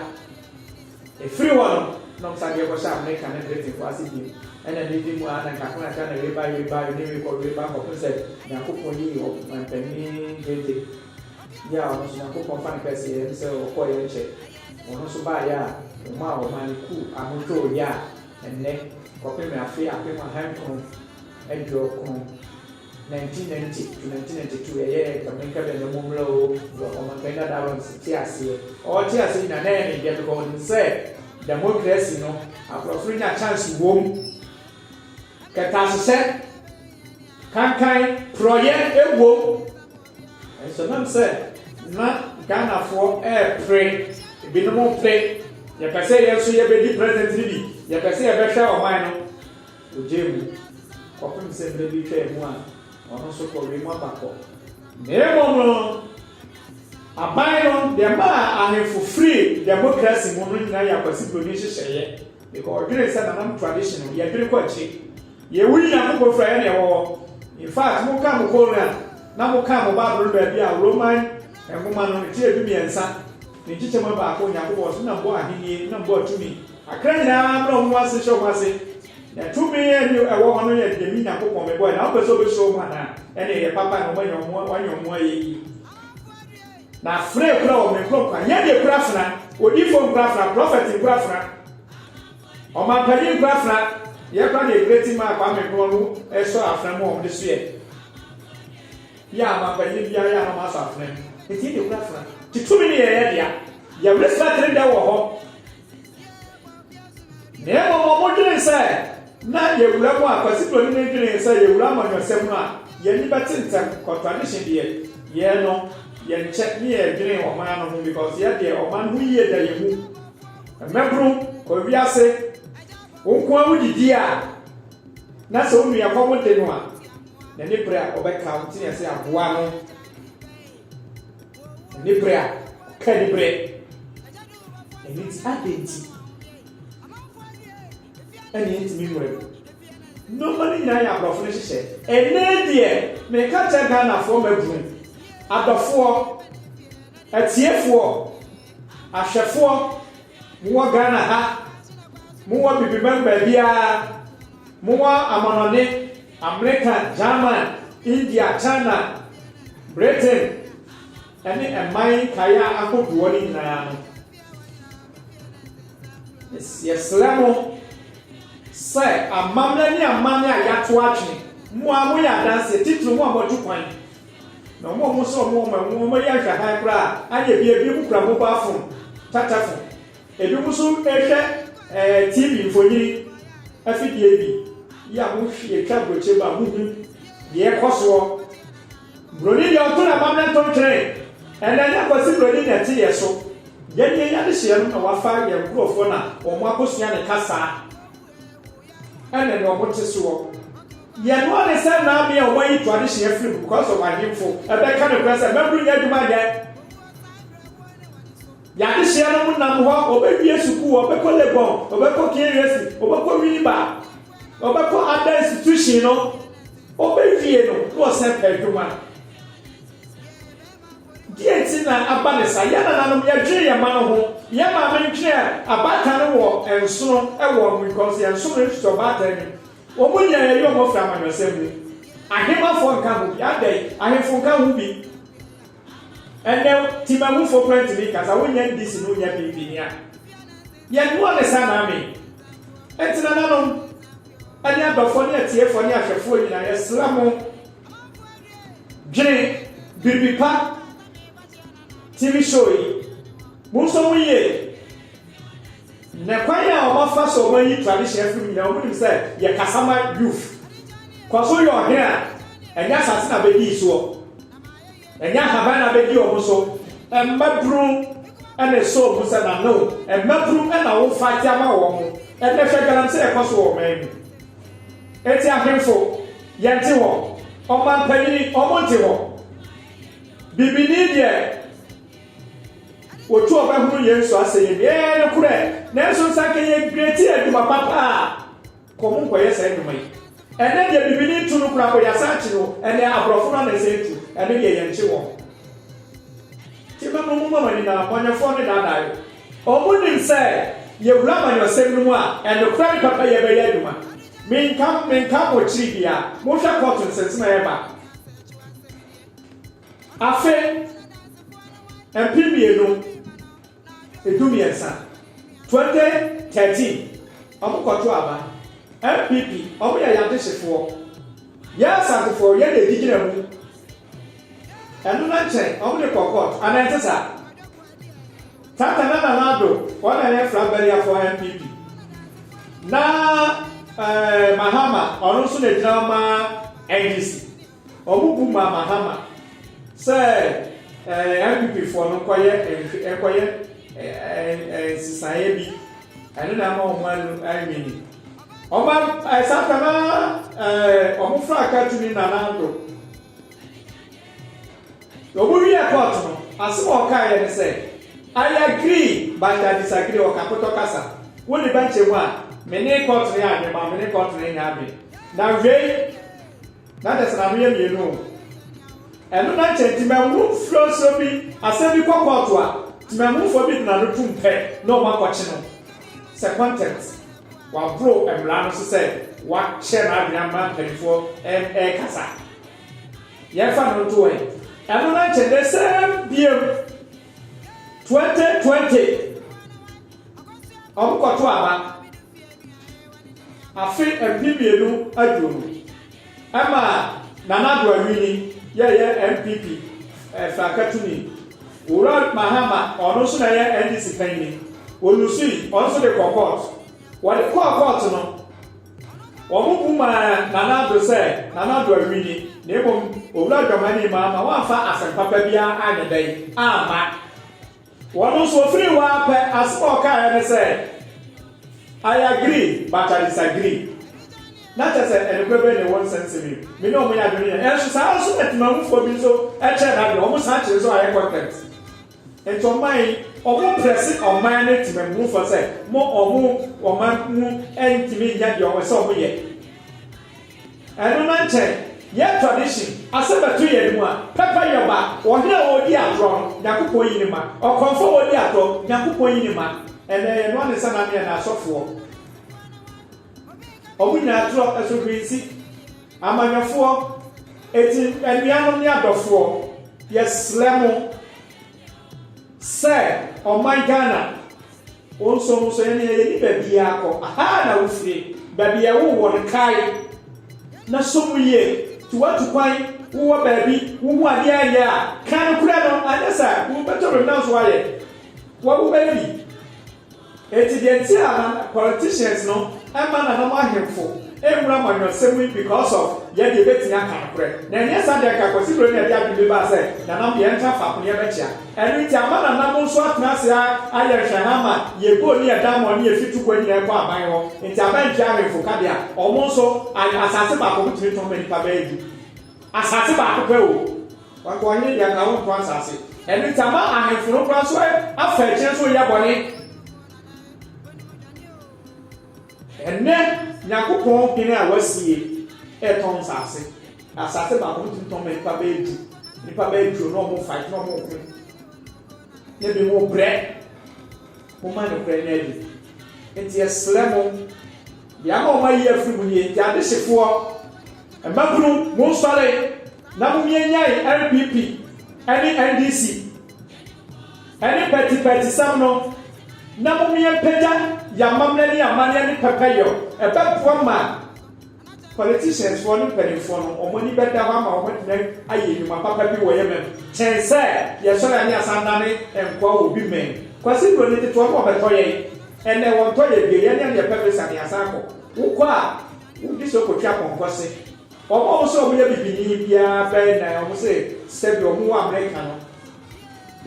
Efiri hɔ no na ɔmo san de yɛ kɔ hyɛ Amerika ne Briten fo ase bio. Ɛna ɛnɛ di mu aa na nkakra nkakra na wei ba wei ba wei ne wei kɔ wei ba kɔpem sɛ Nyankopɔn yi ɔmanpanin Gege yi a ɔno nso Nyankopɔn fa no kɛse yɛ ne sɛ ɔkɔ yɛ nkyɛ ɔno nso baa yɛ a ɔmo a ɔmaa ne kuu ano dwoo yɛ a ɛnɛ kɔpem afe apem ahankron aduokron Nineteen ninety to nineteen ninety two yɛyɛ Tabenka Bɛn Amummerɛ o wɔ Ɔmanpanin Dada Awɛmse te aseɛ ɔte aseɛ nyinaa na ɛyɛ ne dɛ because ɔnim sɛ democracy no aborɔfo nya chance wɔ mu kɛtɛasehyɛ kankan porɔyɛ ɛwɔ mu nso nam sɛ na Ghanafoɔ ɛrepere ebinom pere yɛpɛ sɛ yɛn nso yɛbɛdi president no bi yɛpɛ sɛ yɛbɛhwɛ ɔman no Ogyae mu, kɔpem sɛ mmerɛ bi twaa mu a, ɔno nso kɔwee mu aba kɔ. Na mmom no, aban no, deɛ ɛmaa ahemfo firii democracy mu no nyinaa yɛ Akwasi Broni nhyehyɛeɛ, because ɔdwenee sɛ nanam tradition no, yɛdwene kɔ akyire. Yei, wo yi Nyankopɔn firi a, ɛne ɛwɔ hɔ. In fact, mo kan mo kɔ Rome a, na mo kan mo Bible no baabi a Roman nwoma no, ne tire dumiɛnsa, ne nkyekyɛmu baako, Onyankopɔn, so na mbɔ ahennie, na mbɔ tumi, Akra nyinaa brɛ wɔn ase hyɛ wɔn ase, na tumi a ɛne ɛwɔ hɔ no yɛ deɛ me Nyankopɔn mebɔɛ, na wopɛ sɛ wobɛhyira wɔn anaa? Ɛnneɛ ɛyɛ papa na wɔanya wɔn wɔanya wɔn ayɛyie. Na afena akura wɔn, me nkurɔfoɔ, ayɛdeɛ kura afena, odiyifoɔ nkura afena, prɔfɛt nkura afena, ɔmampanyin nkura afena, yɛ kora deɛ Kreti maa Kwame Nkrumah mu ɛsɔ afena mu a wɔn de soɛ, yɛ a ɔmampanyin biara yɛ a na wɔn asɔ afena mu, nti yɛdeɛ kura afena, nti tumi no yɛ yɛdea, yɛ respect no dɛ wɔ hɔ. Na mmom wɔdwenee sɛ na yɛawura mu a Kwasi Broni no dwenee sɛ yɛawura amanyɔsɛm mu a yɛn ani bɛte ntɛm, contradiction deɛ, yɛn no yɛnkyɛ ne yɛdwene ɔman no ho because yɛn deɛ ɔman ho yie da yɛn mu. Mmabunu wɔ wiase, wo nko ara wodidi a na sɛ wo nua kɔm de no a, n'ani bere a ɔbɛka wo ntini ase aboa no. ne bere a ɔka ne bere ɛno nti adɛn nti ɛne yɛntumi nwura mu nneɛma no nyinaa yɛ aborɔfo no hyehyɛ ɛnɛ deɛ meka kyɛ ghanafoɔ mabunu adɔfoɔ atiefoɔ ahwɛfoɔ mowɔ ghana ha mowɔ bibiman baabiara Mowɔ amannɔne, Amerika, German, India, China, Britain, ne mman nkaeɛ ahodoɔ no nyinaa no, yɛsrɛ mo sɛ amammerɛ ne amanne a yɛato atwene, mo a moyɛ adanseɛ, titiri mo a moatu kwan, na wɔn a wɔn sɛ wɔn wɔn wɔn yɛ nhwɛhan koraa, anyɛ bi ebi mu kura mobile phone, tatafon. Ebinom nso rehwɛ TV mfonini afidie bi yi a mohwɛ twa burokyɛ mu a monim deɛ ɛkɔ soɔ. Buroni deɛ ɔto n'amammerɛ ntontwene, ɛnna ɛnyɛ Kwasi Buroni na ɛte yɛn so. Yɛn deɛ yɛn adehyeɛ no na wafa yɛn nkurɔfoɔ na wɔakɔsua ne kasa ɛne nea wɔte soɔ. Yɛn noa ne sɛ na me a wɔayi to adehyeɛ afiri mu because of ahemfo ɛbɛka nokorɛ sɛ mmabunu nyɛ adwuma nyɛ. Y'adesua no mu nam hɔ, ɔbɛwie sukuu, ɔbɛkɔ Legon, ɔbɛkɔ KUSI, ɔbɛkɔ Winneba, ɔbɛkɔ Ada Institution no, ɔbɛwie no na ɔsan pɛ adwuma. Deɛ nti na aba ne saa, yɛn nananom yɛdwene yɛn mma no ho, yɛn maame ntwene abaatan no wɔ nsono wɔ wɔn because yɛn nsono nsusu ɔbaatan nim, wɔn nyinaa yɛyi wɔn firi amanyɔsɛm mu, ahemafoɔ nka ho bi, adɛn, ahemfo nka ho bi. Ɛnɛ Timahufo koraa ntumi nka, sɛ wonyɛ NDC ne wonyɛ PP ni a, yɛn noɔ ne saa na amee. Enti nananom, ɛne adɔfoɔ ne atiefoɔ ne ahwɛfoɔ nyinaa, yɛsrɛ mo, dwene biribi pa TV show yi, monsɔ mu yie, na kwan a wɔafa so wɔayi tradition afiri mu nyinaa, wɔnim sɛ yɛ Kasama youth, kɔ so yɛ ɔhene a, ɛnyɛ asase na bɛdii soɔ. Ɛnyɛ ahaban na abɛdi wɔn so. Mmabunu na ɛsɔ wɔn mu sɛ n'ano. Mmabunu na wɔfa de ama wɔn. Ɛnnɛ hwɛ galamsey a ɛkɔ so wɔ ɔman mu. Enti ahemfo, yɛnte hɔ. Ɔmampanyini, wɔnte hɔ. Bibini deɛ, otu ɔbɛhunu yɛn nsu asɛyɛ bi. Ɛɛ nokorɛ. Nanso nsa anka yɛgreatie adwuma papa a Kɔ mu nkɔyɛ saa nnwuma yi. Ɛnnɛ deɛ bibini ntu no koraa kɔyɛ asan kyi no ɛnɛ abrɔfo no ana ɛsɛ ɛtu ɛno deɛ yɛnkye wɔn nti mɛma ɔmo ma mo ani na bɔnyɛfoɔ no daadaa yɛ ɔmo nim sɛ yɛwura amanyɔsɛm no mu a ɛnokorɛ ne papa yɛ bɛyɛ adwuma menka menka mo akyiri bia monhwɛ kɔɔto nsɛnsɛm a ɛba afe mpem mmienu Edumiɛnsa, 2013 Ɔmo kɔ to aba, NPP ɔmo yɛ yɛn adehyefoɔ, yɛn Asantefoɔ yɛn na edi gyina mu, ɛno na nkyɛ ɔmo de kɔ court anaa ɛnte saa? Tata na Nana Addo wɔn na yɛn flag bearer foɔ NPP, na ɛɛ Mahama ɔno nso na egyina ma NDC. Ɔmo bu maa Mahama sɛ NPP foɔ no kɔyɛ ɛkɔyɛ nsesaeɛ bi ɛno na ama ɔmo anu anwini ɔmo saa ka na ɔmo fra katu ne Nana Addo ɔmo wiɛ court no asem ɔkaeɛ ne sɛ I agree but I disagree ɔkakotɔ kasa wo ne bɛnkyɛ mu a mene court no yɛ adwen ma mene court no nyɛ adwen na wei Na dɛ sɛ n'ano yɛ mienu o. Ɛno na nkyɛ ntsi mɛwo nsuonsuo bi asɛm bi kɔ kɔɔto a, tsemanmufoɔ bi de n'ano tum pɛ na ɔmo akɔkye no sɛ contempt. Waboro mmara no so sɛ wakyerɛ n'adwene ama mpanyinfoɔ ɛɛkasa. Yɛnfa no nto hɔ yi, ɛno na nkyɛ ndɛ sɛɛm biam, twenty twenty. Wɔkɔto aba afe mpem mmienu aduonu. Ɛma Nana Addo Awini yɛ yɛ NPP eh, frankatuni. Owura Mahama, ɔno nso na ɛyɛ NDC panyini. Wɔlusui, ɔno nso de kɔ kɔɔt. Wɔde kɔɔ kɔɔt no, wɔn bu maa Nana Addo sɛ Nana Addo Awini, na mmom Owura Dwamani Mahama wɔamfa asɛm papa biara anyɛ dɛn amma. Wɔn nso wɔfirii hɔ ara pɛ, asɛm a wɔkaeɛ ne sɛ, I agree, but I disagree. Na kyerɛ sɛ, nokorɛ bɛn na ɛwɔ nsɛm nsɛm yi mu? Me ne wɔn yɛ adwene yɛ. Nanso saa ara nso na temamufoɔ bi nso kyerɛ n'adwene, wɔsan kyerɛ nso ayɛ contempt. Enti ɔman yi, wɔprɛse ɔman ne temamufoɔ sɛ, mo, wɔn ɔman mu ntumi nyɛ deɛ ɛsɛ sɛ wɔyɛ. Ɛno na nkyɛ yɛ tradition asɛ bɛto yɛn mu a pɛpɛ yɛ ba ɔhene a ɔɔdi agorɔ no Nyankopɔn yi ne ma ɔkɔmfo a ɔɔdi agorɔ Nyankopɔn yi ne ma ɛnɛ yɛ noa ne nsa name ɛnɛ asɔfoɔ ɔmo nyinaa trɔ ɛso hwensi amanyɔfoɔ eti anuanom ne adɔfoɔ yɛ srɛ mo Sɛ ɔman Ghana wo nso ho sɛ yɛne yɛni bɛbia kɔ ahaa na wo firi bɛbi a wo wɔ no kae na so mu yie ti watu kwan wo wɔ bɛbi wo ho adeɛ ayɛ a ka no korɛ no anyɛ sa wo bɛtɔ bɛbi na nso ayɛ wɔ wo bɛbi Enti deɛ nti a na politicians no mma nananom ahemfo nwura amanyɔsɛm mu yi because of yɛ deɛ yɛbɛtumi aka nokorɛ na ɛnyɛ saa deɛ nka Kwasi Broni na ɛde adwene bi baa sɛ nananom deɛ yɛntra faako na yɛbɛkyea ɛno nti ama nananom nso atena ase ara ayɛ nhwɛhaa ma yɛ gold ne yɛ diamond ne yɛ fitukuo nyinaa ɛkɔ aban hɔ nti aban ntua ahemfo ka deɛ a wɔn nso ayɛ asase baako wɔtumi tɔn ma nnipa bɛyɛ du asase baako pɛ o. W'akoa nyɛ dea na wonntɔ asase. Ɛno nti ama ahenfo no kora so afa akyire so reyɛ bɔne. Ɛnnɛ Nyankopɔn hene a w'asie retɔn nsase. Asase baako no tumi tɔn ma nnipa bɛyɛ du. Nnipa bɛyɛ du no na wɔn fight na wɔn ko. Na ebi mo brɛ. Momma nokorɛ nna adi. Enti yɛsrɛ mo, deɛ ama wɔn ayi afiri mu nie, enti adehyefoɔ, mmabunu, monsɔre na momianyan NPP ne NDC ne pɛtipɛtisɛm no, na momiampagya yɛn amammerɛ ne yɛn amanneɛ ne pɛpɛyɔ, ɛbɛboa ma. Politicians foɔ ne mpaninfoɔ no wɔn ani bɛda hɔ ama wɔn atumi ayɛ nnwuma papa bi wɔ yɛ mɛm. Kyɛn sɛ yɛ sɔre a ne yɛasan dane nkoa wɔ obi mɛm. Kwasi duro ne tete wɔn na wɔbɛtɔ yɛn. Ɛnɛ wɔ ntɔ yɛ bio yɛ ne ɛne yɛ pɛ visa ne yɛasan kɔ. Wo kɔ a wo di so kɔ twa pɔnkɔ se. Wɔn a wɔn se wɔn yɛ bibini biara bɛn na wɔn se sɛ bi wɔn wɔ America no.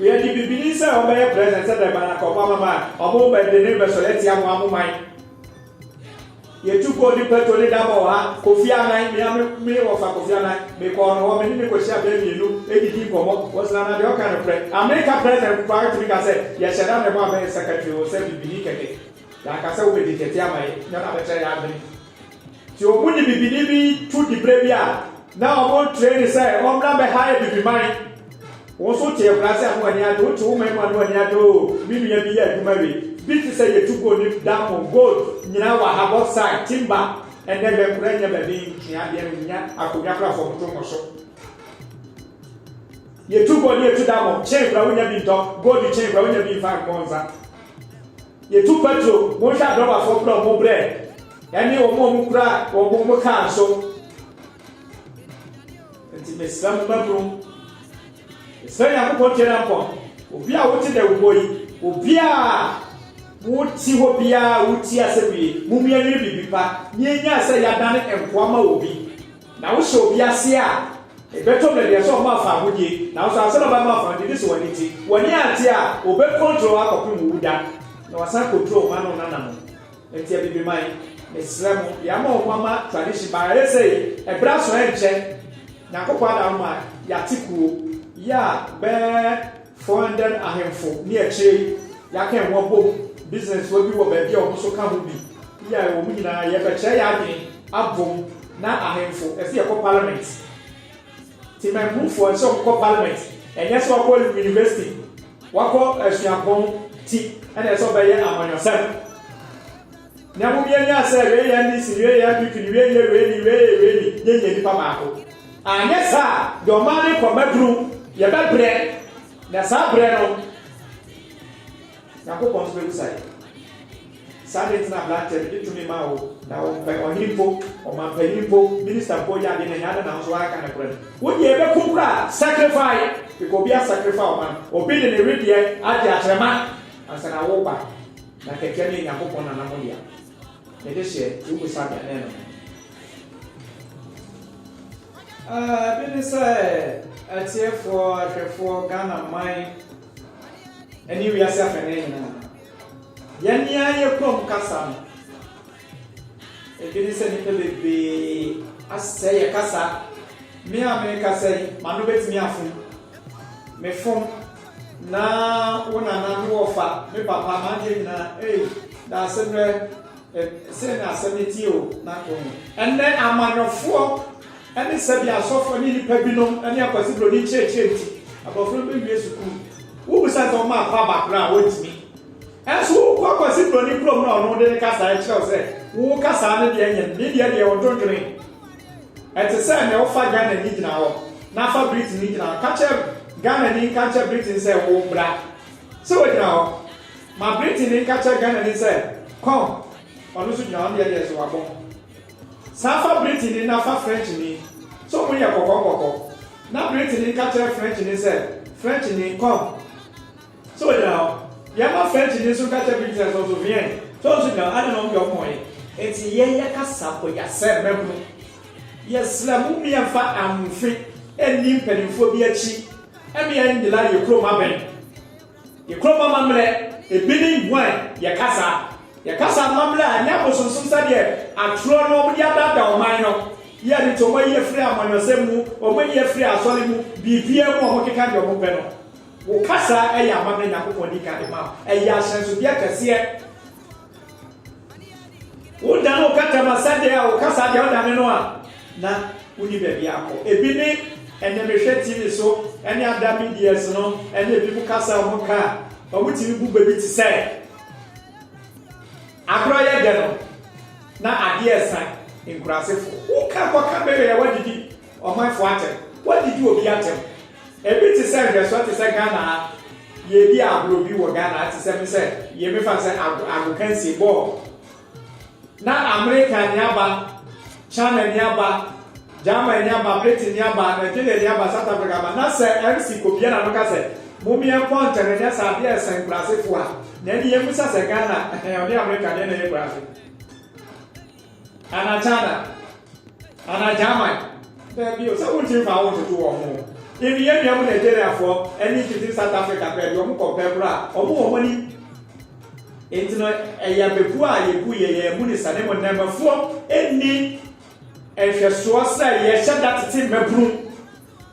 Yɛ di bibini sɛ wɔn bɛyɛ president sɛ dɛn bana ka wɔn ama ma wɔn bɛ dene bɛ sɔre atia mo a mo man. Yɛtu kɔɔ ne pɛtro ne da bɔɔ ha, Kofi Annan, me a me me wɔfa Kofi Annan, me kɔɔ no hɔ, me ne no kɔhyia bɛɛ mmienu, didi nkɔmmɔ, wɔsena na deɛ ɔka no korɛ. Amerika President mpo ara tumi ka sɛ yɛhyɛ da na ɛbɔ abɛyɛ secretary o, sɛ bibini kɛkɛ, yɛanka sɛ wobɛdi kɛte ama yɛ, nyɛ na bɛkyerɛ yɛ adwene. Nti ɔmo de bibini bi to dibrɛ bi a, na ɔmo train sɛ ɔmmra bɛha yɛ bibiman. Wo nso te akurase a na w'ani agye, wote wo man mu a na w'ani agye oo, me nua bi yɛ adwuma wie, bi te sɛ yɛtu gold ne diamond, gold, nyinaa wɔ ha, bauxite, timber, ɛnnɛ hwɛ nkoraa nnya baabi ntwea adeɛ no, nnya akonnwa koraa fam to mmɔ so. Yɛtu gold ne yɛtu diamond, chain koraa wonya bi ntɔ, gold chain koraa wonya bi mfa mmɔ nsa. Yɛtu petrol, monhwɛ adɔbafoɔ koraa wɔn brɛ, ɛne wɔn a wɔkura wɔn car nso. Nti mesrɛ mo mmabunu, mesrɛ Nyankopɔn tie na nkɔn, obi a wote dɛw mmɔ yi, obiara a wote hɔ biara a wotie asɛm yi, mom yɛnwene biribi pa na yɛnyaa sɛ yɛadane nkoa ma obi. Na wohyɛ obi ase a, ɛbɛtɔ baabi a sɛ ɔma afa ahodie, nanso ansa na ɔbɛma afa ahodie, gye sɛ w'ani te. W'ani ante a, ɔbɛkontrol wo akɔpem wo wuda, na wasan kontrol wo mma ne wo nana mo. Enti Abibiman, mesrɛ mo, yɛama ɔmo ama tradition but ayɛ sɛ ɛberɛ aso ɛnkyɛ Nyankopɔn ada hɔ ma yɛate kuo yi a bɛɛ 400 ahemfo ne akyire yi yɛaka ɛho abom, business wa bi wɔ baabi a ɔmo nso ka ho bi yɛ a ɔmo nyinaa yɛbɛkyerɛ yɛn adwene abom na ahemfo ɛse yɛkɔ parliament. Temanmufoɔ nhyɛ wɔn kɔ parliament ɛnyɛ sɛ wakɔ university wakɔ asuapɔn ti ɛna ɛsɛ ɔbɛyɛ amanyɔsɛm na ɛho bia nya sɛ wei yɛ NDC wei yɛ NPP ne wei yɛ wei ni wei yɛ wei ni yɛ nyɛ nipa baako anyɛ saa deɛ ɔman ne kɔ mɛduru yɛbɛbrɛ na saa brɛ no Nyankopɔn nso bebisa yɛn. Saa ade nti na abranteɛ no gye tumi ma wo na wo mpɛ ɔhene mpo, ɔmanpanyin mpo, minister mpo yɛ ade no ɛnyɛ ade na wo nso woaka nokorɛ no. Wo deɛ ɛbɛko koraa sacrifice because obi asacrifice ɔman no, obi de ne wedeɛ agye akyerɛma ansa na wo ba na kɛkɛ no yɛ Nyankopɔn nana mo dea. Mede hyɛ nti wo bisa me a na ɛno no. Ɛɛ, bi ne sɛ, atiefoɔ, ahwɛfoɔ, Ghana man ne wiase afanan nyinaa. Yɛn ni ara yɛ koom kasa no, ebi ne sɛ nnipa bebree asɛe yɛ kasa. Me a merekasa yi, m'ano betumi afom. Mefom, na wo nana, me wɔfa, me papa, m'adeɛ nyinaa, ei, daase berɛ, eh, sei na asɛm no tie o, na to ho. Ɛnnɛ, amanyɔfoɔ ne sɛdeɛ asɔfoɔ ne nnipa binom ne akwasibroni nkyerɛkyerɛ nti, abɔfra no bɛwie sukuu. Wobisa no sɛ ɔma afa aba koraa a, ɔntumi. Nanso wokɔ akwasibroni kurom na ɔno de ne kasaa kyerɛ wo sɛ, wo kasaa no deɛ nyɛ me deɛ deɛ ɔdwondwene. Ɛte sɛ nea wofa Ghanani gyina hɔ na fa Britini gyina hɔ. Ka kyerɛ Ghanani nka nkyerɛ Britini sɛ, wo bra. Sɛ wogyina hɔ, ma Britini nka kyerɛ Ghanani sɛ, come. Ɔno nso gyina hɔ, ne deɛ deɛ so wabɔ. San fa Britini na fa Frenchnyi. So hom yɛ kɔkɔɔ kɔkɔɔ? Na Britini nka kyerɛ Frenchnyi sɛ, Frenchnyi, kɔm! So ogyina hɔ? Yɛ ma Frenchnyi so nka kyerɛ Britini sɛ, So so viens? So so gyina hɔ? Adɛn na hom dze homho yɛ? Ntsi yɛ yɛ kasa bɔ yɛ asɛmba mu no, yɛsrɛ mo mma yɛmfa aamfe nnyi mpanyimfoɔ bi akyi, mma yɛnnyela yɛ kurom abɛn. Yɛkorɔ mo amammerɛ, ebi ne hwan? Yɛka saa. Yɛka saa amammerɛ a ɛnyɛ abosonsom sɛdeɛ atorɔ no wɔde adaadaa ɔman no, yɛ de to wɔn ayi afiri amanyɔsɛm mu, wɔn ayi afiri asɔre mu, biribiara mu a wɔkeka deɛ wɔpɛ no. Wo ka saa yɛ amammerɛ Nyankopɔn di kan de ma wo. Ɛyɛ ahyɛnsodeɛ kɛseɛ. wodan wo kata ma sɛdeɛ a wo kasa deɛ wodane no a na woni baabi akɔ ebi ne ɛnɛ mehwɛ tv so ɛne ada medias no ɛne ebi mu kasa wɔn ka a wɔn tumi bu baabi te sɛ agorɔ yɛ dɛ no na adeɛ ɛsa nkurasefo woka kɔka bɛyɛ a wadidi ɔmanfo atɛm wadidi obi atɛm ebi te sɛ nhwɛsoɔ te sɛ ghana ha Yɛredi agorɔ bi wɔ Ghana ate sɛ me sɛ yɛ me fa sɛ ago agokansie bɔɔl na Amerika ni aba China ni aba German ni aba Britain ni aba Nigeria ni aba South Africa aba na sɛ MC Kobia na no ka sɛ mo mi ɛnkɔ ntɛm ɛnyɛ sɛ adeɛ ɛsɛn kurase foɔ a na ɛni yɛ musa sɛ Ghana ɔne Amerika deɛ na ɛyɛ kurase. Ana China? Ana German? Dabi o, sɛ wontumi mfa wo ntoto wɔn ho. Even yɛn nuanom Nigeriafoɔ ne mfiti South Africa koraa bi, wɔn kɔpɛ koraa, wɔn wɔ wɔn ani. Nti no, ɛyɛ abebu a yɛbu yɛ yɛn mu ne sa, na mmom nnɛɛmafoɔ nni nhwɛsoɔ sɛ yɛhyɛ da tete mmabunu.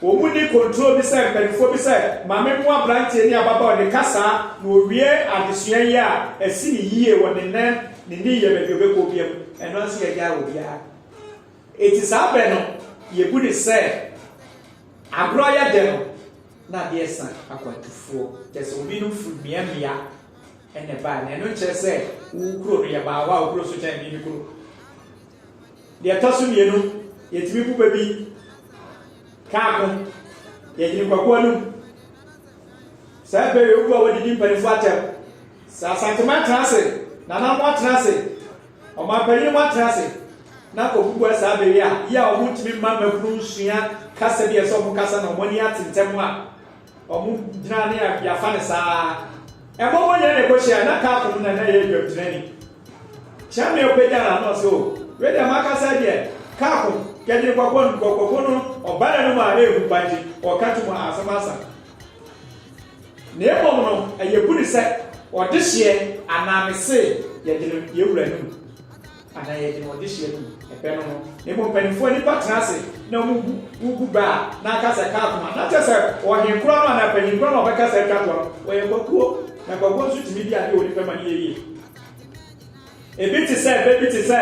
Wɔn mu nni kontroo bi sɛ mpanimfoɔ bi sɛ, Ma me mmoa abranteɛ ne ababaawa no ka saa na ɔwie adesua yi a, asi no yie wɔ ne nan, ne ne yam, baabi a ɔbɛkɔ biara mu. Ɛno ara nso yɛagyae obiara. Enti saa berɛ no, yɛbu no sɛ agorɔ ayɛ adɛ no, na adeɛ resa akwantufoɔ, kyerɛ sɛ obi no firi mmea mmea na ɛbaeɛ. Na ɛno nkyerɛ sɛ wo kuro no, yɛbaa hɔ a wo kuro nso kyɛn me me kuro. Deɛ ɛtɔ so mmienu, yɛtumi bu bɛ bi ka ako, yɛgyene kwaku anum. Saa bɛ yɛ obu a wɔdidi mpanimfoɔ atɛm. Sɛ Asanteman atena ase, Nana mo atena ase, ɔmanpanyin mo atena ase na ɔbubua saa bɛ yi a, yɛ a wɔntumi mma mmakunu nsua kasa bi a ɛsɛ wɔn kasa na wɔn ani ate ntɛm a, Wɔgyina ne a yɛafa no saa. Ɛma wɔnyɛ ne bɔhyɛ a na kaa fam na na ɛyɛ dwamtirani. Kyɛnme ɔpagya no ano sɛ o, wei deɛ makasa deɛ kaa fam kɛgye nkɔkɔ no nkɔkɔfo no ɔba na no mu a ɛrehu ba nti ɔka to mu a asɛm asa. Na mmom no ɛyɛ bu ne sɛ ɔdehyeɛ anaa me se yɛgye no yɛn wura no mu. Anaa yɛde no ɔdehyeɛ no mu ɛpɛ no no, na mmom mpaninfoɔ nnipa tena ase na wɔgu wogu bɛ a na aka sɛ ɛka akoma, na kyɛsɛ ɔhene korɔ no anaa panin korɔ no na ɔbɛka sɛ atwa toa no, wɔyɛ kwakuo, na kwakuo nso tumi di adeɛ a onipa ma no yɛ yie. Ebi te sɛ bɛ bi te sɛ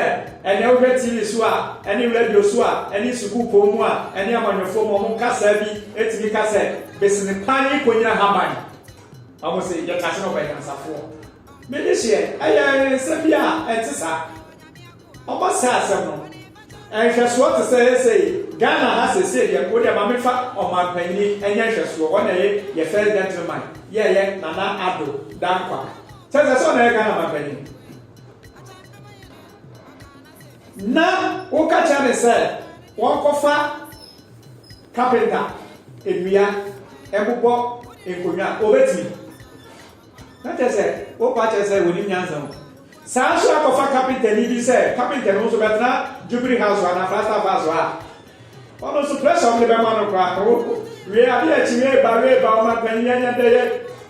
ɛnɛ wohwɛ TV so a, ɛne radio so a, ɛne sukuu pɔn mu a, ɛne amanyɔfoɔ mu a, wɔn kasaa bi tumi ka sɛ, Besene paa ne konyina haban. Wɔn se, yɛte ase na wɔbɛ nyansafoɔ. Me de hyeɛ ɛyɛ nsɛm bi a ɛnte saa. Ɔba saa asɛm no, nhwɛsoɔ te sɛ sei, Ghana ha seesei deɛ, wo deɛ ma me fa ɔmanpanyini nyɛ nhwɛsoɔ, wɔn na ɛye yɛ first gentleman, yɛ ɛyɛ Nana Addo Dankwa, kyɛre sɛ, sɛ ɔna ɛyɛ Ghana manpanyini, na wo ka kyerɛ no sɛ, wɔn kɔ fa carpenter nnua ɛbobɔ nkonnwa a, ɔbɛtumi? Na kyerɛ sɛ, wopa kyerɛ sɛ wɔnim nyansa o. Saa ara nso na kɔfa kapentani bi sɛ kapenta no nso bɛtena Jubilee House anaa Flagstaff House a ɔno nso pressure a wɔde bɛma no koraa ho. Wie adeɛ akyi no reba reba ɔmanpanin yi anya dɛyɛ,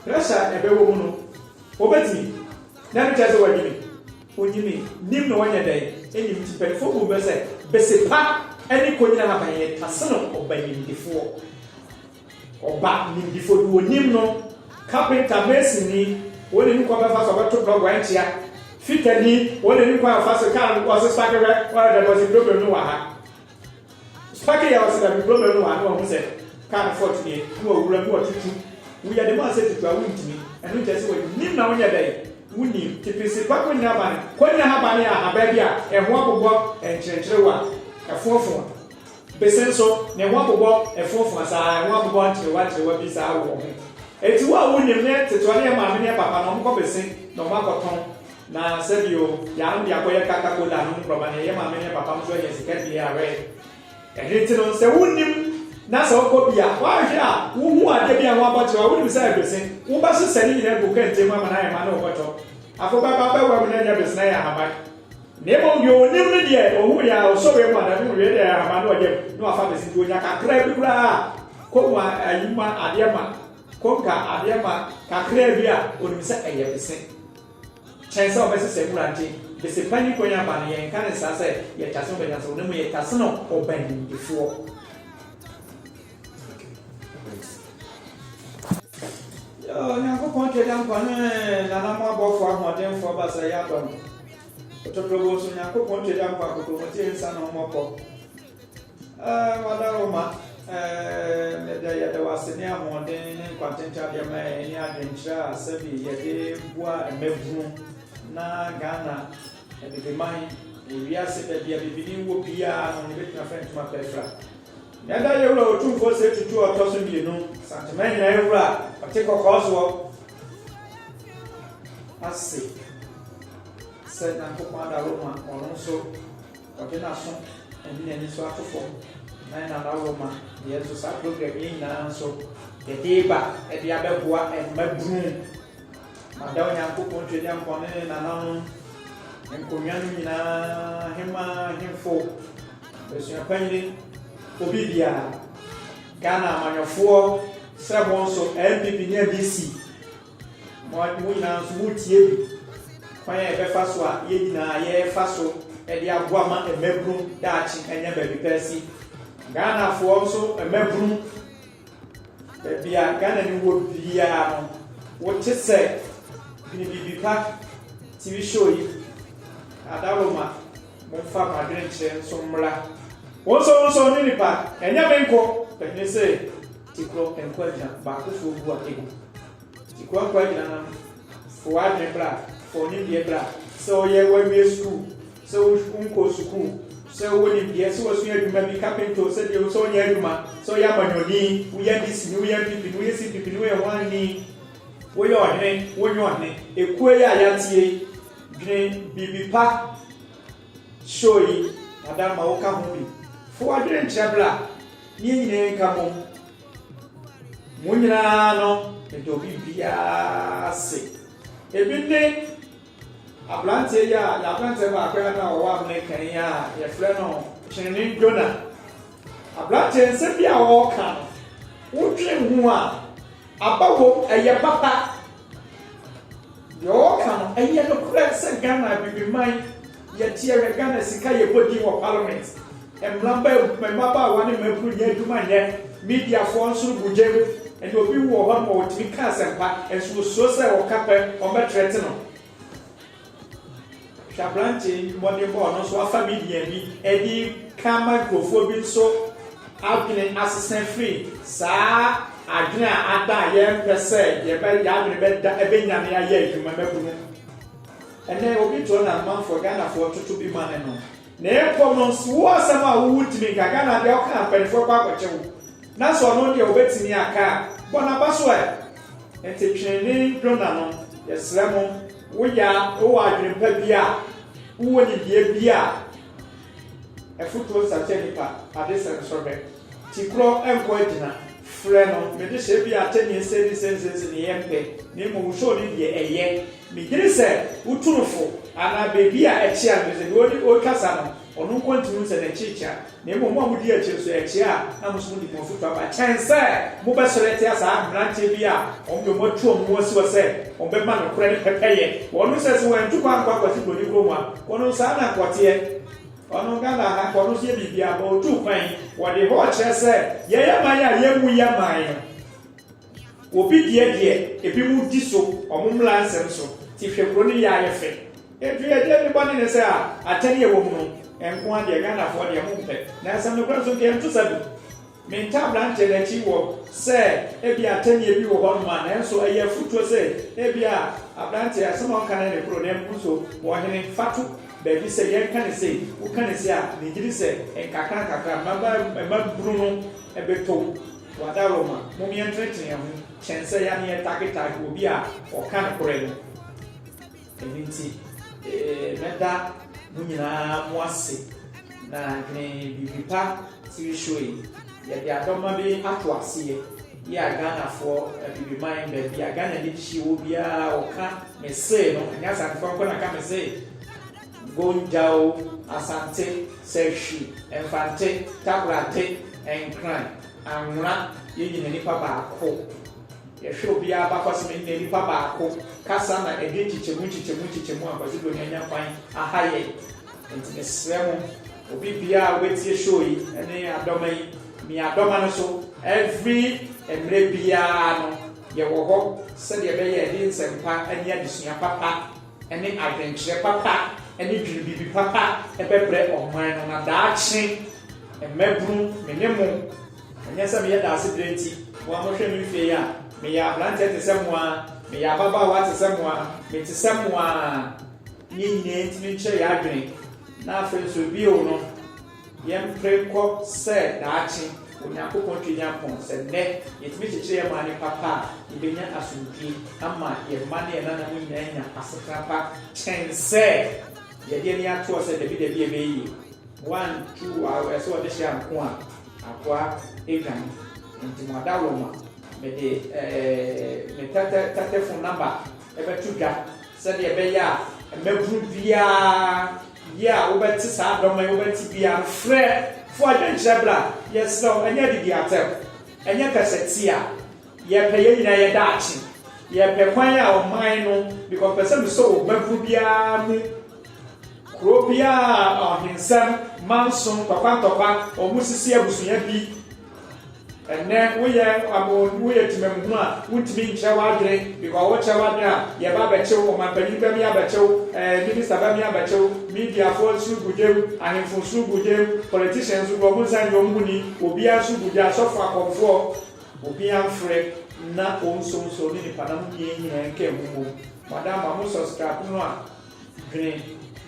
pressure a ɛbɛwɔ mu no, ɔbɛtumi. Na ɛno kyerɛ sɛ wanyini? Ɔnyinii. Nim na wanya dɛn? Nnim. Nti mpanimfoɔ bu mmɛ sɛ bese pa ne kɔnyina haban yɛ taseno ɔbanimdifoɔ. Ɔba nimdefo bi onim no, carpenter, masonni, wɔn na enim kwan bɛfa so ɔbɛto blɔk wankyia, fitani, wɔn na enim kwan afa so kaa no ɔse spake hwɛ ɔyɛ dɛm ɔse problem no wɔ ha spake yɛ ɔse dabi problem no wɔ ha na wahu sɛ kaa no fort nie na wawura mu watutu woyɛ de mu asɛ tutu a wontumi ɛno nkyɛ sɛ wɔnim na wonyɛ dɛn wonim tipisi pa kɔnyina abane kɔnyina habane a habaa bi a ɛho abobɔ ɛnkyerɛnkyerɛ wo a ɛfoɔfoɔ Bese nso, ne ho abobɔ foafoa saa, ɛho abobɔ nkyerewankyerewa bi saa wɔ ho. Enti wo a wunim ne ketewa ne yɛn maame ne yɛn papa no, wɔkɔ bese na wɔakɔtɔn. Na sɛ bio, yɛanom de akɔyɛ Kaka Kola anom borɔma na yɛn maame ne yɛn papa nso anya sika de awɛn. Ɛno nti no, sɛ wunnim na sɛ wokɔ bi a, woanhwɛ a, wuhu adeɛ bi a ɛho abɔ kyerewa a wunim sɛ ɛyɛ bese, wobɛsesɛ ne nyinaa agu kɛntɛn mu ama no ayɛ ma na wobɛtɔ. Afei wobɛba abɛwɛn mu na ɛnyɛ bese na ɛyɛ ahaban. Na mmom deɛ ɔnim ne deɛ ɔhu yɛ a ɔsɔre mu anadwo mu wie deɛ ahama no ɔyam na wafa abɛsi nti ɔnya kakraa bi koraa a kɔm a ayi ma adeɛ ma kɔm ka adeɛ ma kakraa bi a ɔnim sɛ ɛyɛ bese kyɛn sɛ ɔbɛsesɛ nwura nti bese pa ni kwan aba no yɛnka ne saa sɛ yɛtase no bɛnyansafoɔ na mmom yɛtase no ɔbanimdifoɔ Onyankopɔn Twagyankopɔn ne nananom abɔfoɔ ahoɔdenfoɔ baasa yi adɔ no. Ntotoboso Nyankopɔn Twagya Nkwa Kotomotie Nsa Ne Ho Mmɔbɔ eh Mada Wo Ma eh Meda Yɛda Wo Ase Ne Ahoɔden Ne Nkwa Ntenten Adeɛ Ma Yɛn Ɛne Adwenkyerɛ A Sɛbi Yɛde Boa Mmabunu Na Ghana Abibiman Wɔ Wiase Baabi A Bibini Wɔ Biaa No Yɛbɛtumi Afra Ntoma Pa Afira. Yɛda Yɛwura Otumfoɔ Osei Tutu a ɔtɔ so mmienu, Asantehene Nyinaeɛ Wura a ɔte kɔkɔɔ soɔ ase sɛ Nyankopɔn ada Roma ɔno nso ɔde n'aso ɛne n'ani so ato fam na yɛn nana Roma deɛ nso saa program yi nyinaa nso yɛde ba ɛde abɛboa ɛma bunu mada Onyankopɔn twɛ Nyankopɔn ne ne nananom nkonnwa no nyinaa hema hemfo Abusua panyin, obi biara, Ghana amanyɔfoɔ, sɛ mo nso NPP ne NDC, mo nyinaa nso mo tie bi, kwan a yɛbɛfa so a yɛn nyinaa yɛfa so de aboa ma mmabunu daakye ɛnyɛ baabi pɛɛ si. Ghanafoɔ nso mmabunu, baabi a Ghana ni wɔ biara no, wote sɛ Bini Bibi Pa TV show yi, Adaloma, Momfa mo adwenkyerɛ nso mmra. Wonsɔ wonsɔ ne nipa ɛnyɛ me nko Ɛhene se Tikorɔ nko agyina baakofoɔ gu a ɛgu Tikorɔ nko agyina nam Fɔ w'adwene bra fɔ wo nimdeɛ bra Sɛ ɔyɛ w'awie sukuu sɛ wo nkɔ sukuu Sɛ wowɔ nimdeɛ sɛ wasua adwuma bi Kapenta o sɛ deɛ o sɛ ɔnyɛ adwuma Sɛ ɔyɛ amanyɔni woyɛ DC ni woyɛ NPP ni woyɛ CPP ni woyɛ hwan ni Woyɛ ɔhene wonyɛ ɔhene Ekuo yi a yɛateɛ yi. Dwene biribi pa show yi madam ma woka ho bi. Fa w'adwene nkyerɛ bra ne yɛn nyinaa nka bom. Mo nyinaa no medɔ biribiara se. Ebi ne abranteɛ yi a yɛ abranteɛ baako yi a na ɔwɔ amene kan yi a yɛfrɛ no Kyene Jonah. Abranteɛ nsɛm bi a ɔreka no wodwene ho a aba wom ɛyɛ papa. Deɛ ɔɔka no ɛnyɛ nokorɛ sɛ Ghana abibiman yɛ teɛ hwɛ Ghana sika yɛ bɔ din wɔ parliament mmabaawa ne mmaburu nya adwuma nyɛ media foɔ nso no bu gyam ɛne obi wu wɔ hɔ nom a ɔtumi ka asɛmpa nso ɔsuro sɛ ɔka pɛ ɔmbɛ threaten no. Hwɛ aberanteɛ yi mmɔdenbɔ ɔno nso afa media bi ɛde ka ma nkurɔfoɔ bi nso adwene asesa firi saa adwene a ada a yɛmpɛ sɛ yɛbɛ yɛadwene bɛda ɛbɛnyane ayɛ adwuma mabunu ɛnɛ obi toɔ na amanfoɔ ghanafoɔ toto bi ma ne no Na mpo no nso wo asɛm a wo wo tumi nka Ghana deɛ wo ka a mpaninfoɔ kɔ akɔkye wo na sɛ ɔno deɛ ɔbɛtumi aka a bɔ naba so ɛ nti twene dwona no yɛsrɛ mo wo yɛ a wo wɔ adwene pa bi a wo wɔ nimdeɛ bi a afutuo nsakyɛ nipa ade sɛ nsɔ hwɛ ti korɔ nkɔ agyina frɛ no me de hyɛ bi a atɛnni nsɛnni nsɛnnsɛnsi ne yɛ mpɛ na mmom wo show no deɛ ɛyɛ. Megyedi sɛ wo Tumfo anaa baabi a ɛkyea no, efisɛ deɛ ɔne ɔretwa sa no, ɔno nko ntumi hu sɛ n'akyi rekyea, na mmom mo a modi akyire nso, ɛkyea a na mo nso mode mo afotu aba, kyɛn sɛ mobɛsɔre atia saa mmeranteɛ bi a wɔn deɛ wɔatu wɔn ho asi hɔ sɛ wɔbɛma nokorɛ no pɛpɛyɛ wɔ no, sɛ sɛ wɔantu kwan ankɔ akwati buroni kuro mu a, kɔ no saa na anka ɔteɛ, ɔno Ghana ha nka ɔno nso yɛ biribiara, but ɔtuu kwan yi, wɔde hɔ rekyerɛ sɛ yɛn aman a yɛmmu yɛn aman no. Obi deɛ deɛ ebinom di so wɔn mmara nsɛm so te hwɛ kuro no yɛ ayɛ fɛ. Ɛduru ɛdeɛ ne bɔne ne sɛ a atɛne ɛwɔ mu no nko ara deɛ Ghanafoɔ deɛ mo mpɛ. Na asɛm nokorɛ nso nka yɛnto sa bi. Me ntaa abranteɛ no akyi wɔ sɛ ebia atɛneɛ bi wɔ hɔ nom a nanso ɛyɛ afutuo sɛ ebia abranteɛ asɛm a ɔka no ne koro na mpo nso ɔhene fa to baabi sɛ yɛnka ne sei woka ne sei a megye di sɛ nkakra nkakra mmabunu no bɛtɔ mu. Wadawuroma, mom yɛntenetene yɛn ho kyɛn sɛ yɛane yɛtaketake obi a ɔka nokorɛ no. Ɛno nti, mɛda mo nyinaa mo ase na dwene biribi pa TV show yi. Yɛde adɔma bi ato aseɛ yi a Ghanafoɔ abibiman baabia Ghana nidihyeɛ wɔ biara ɔka me see no, ɛnyɛ Asantefoɔ nko na ka me see. Gonjawo, Asante, Sahwi, Mfante, Takoradi, Nkran, Anwona, yɛn nyina nipa baako. Yɛhwɛ obiara abakɔsem nyina nipa baako, kasa na ɛdwen nkyekyɛmu nkyekyɛmu nkyekyɛmu a Kwasi Broni anya kwan aha yɛn. Nti mesrɛ mo, obi biara a wobɛtie show yi ne Adɔma yi, mi Adɔma no so every mmerɛ biara no yɛwɔ hɔ sɛdeɛ ɛbɛyɛ a yɛde nsɛmpa ne adesua papa, ne adwenkyerɛ papa ne dwene biribi papa bɛbrɛ ɔman no na daakye mmabunu me ne mo ɛnyɛ sɛ meyɛ daasebrɛ nti mo a mohwɛ me mfie yi a meyɛ abranteɛ te sɛ mo ara meyɛ ababaawa te sɛ mo ara mete sɛ mo ara ne nyinaa ntumi nkyerɛ yɛ adwene na afei nso bio no Yɛmpere nkɔ sɛ daakye Onyankopɔn Twagya pon sɛ nnɛ yɛtumi kyekyere yɛn maame papa a, yɛbɛnya asomdwie ama yɛn mma ne yɛn nananom nyinaa anya asetena pa kyɛn sɛ yɛde ani ato sɛ dabi dabi ɛbɛyɛ yie. Wantu w'aw ɛsɛ ɔde hyɛ anko a akoa dwane nti mo ada woma mede me tɛtɛtɛfo namba bɛto dwa sɛdeɛ ɛbɛyɛ a mmabunu biara Bia a wobɛte saa dɔm a ɛwɔ bɛte bia no frɛ fo adwenkyerɛ bra yɛsrɛ wo ɛnyɛ ade di atɛm ɛnyɛ kasa ti a yɛpɛ yɛn nyinaa yɛ daakye yɛpɛ kwan a ɔman no because pɛ sɛ mesɔ wɔ babunu biara mu kuro biara ɔhensɛm manso ntɔkwa ntɔkwa ɔmo sisi abusua bi Ɛnnɛ woyɛ abo woyɛ temamhunu a wontumi nkyerɛ w'adwene because wokyerɛ w'adwene a yɛba abɛkyew ɔmanpanyin bɛmi abɛkyew ɛɛ eh, minister bɛmi abɛkyew mediafoɔ nso gu gyam ahemfo nso gu gyam politicians nso gu wɔn nsa nyɛ wɔn ho ni obiara nso gu gya asɔfo akɔmfoɔ obiara mfrɛ na ɔnsonso ne nipa na mo mmienu nyinaa nka ɛho mmom madam ma mo subscribe no a Dwene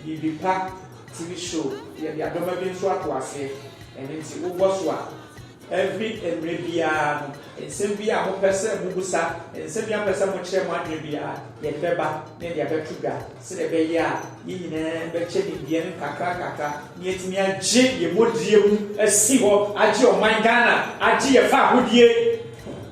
biribi pa TV show yɛde adɔma bi nso ato aseɛ ɛno nti wobɔ so a every mmerɛ biara no nsɛm biara a mopɛ sɛ mobusa nsɛm biara a mopɛ sɛ mokyerɛ mo adwene biara yɛde bɛba na yɛde abɛto dwa sɛdeɛ ɛbɛyɛ a yɛn nyinaa bɛkyɛ nimdeɛ no nkakra nkakra na yɛatumi agye yɛn modie mu asi hɔ agye ɔman Ghana agye yɛn fahodie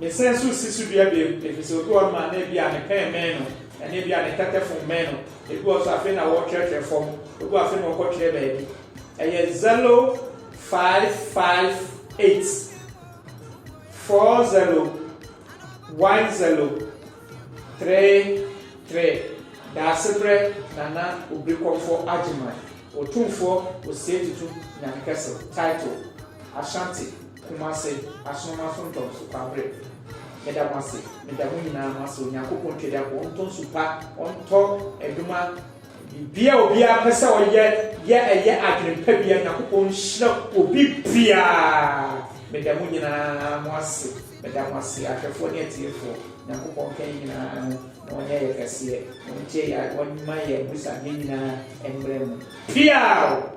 Mesan nso si so dua bio, ɛfiri sɛ obi wɔ hɔnom a na ebia ne pɛn mmɛn no, anaa ebia ne tɛtɛfon mmɛn no. Ebi wɔ hɔ nso a, afei na wɔretwerɛtwerɛ fam. Obi wɔ hɔ a, afei na ɔkɔtwerɛ baabi. Ɛyɛ zɛlo five five eight, four zɛlo, one zɛlo, three three. Daasebrɛ Nana Obrikɔmfɔ Agyeman, Otumfoɔ Osei Tutu Nyankɛse, Title, Ashanti. Kumase, Asonomaa Suntɔm so Kwabre, meda mo ase, meda mo nyinaa mo ase, Onyankopɔn Twadiafoɔ ɔntɔ nsu pa, ɔntɔ adwuma, biribiara obiara pɛ sɛ ɔyɛ yɛ ɛyɛ adwene pa biara, Nyankopɔn nhyira obi biara, meda mo nyinaa mo ase, meda mo ase, ahwɛfoɔ ne atiefoɔ, Nyankopɔn nka yɛn nyinaa ho na ɔnyɛ yɛ kɛseɛ, na ɔntie yɛ, ɔmma yɛ abusuadeɛ nyinaa mmrɛ mu, piaww!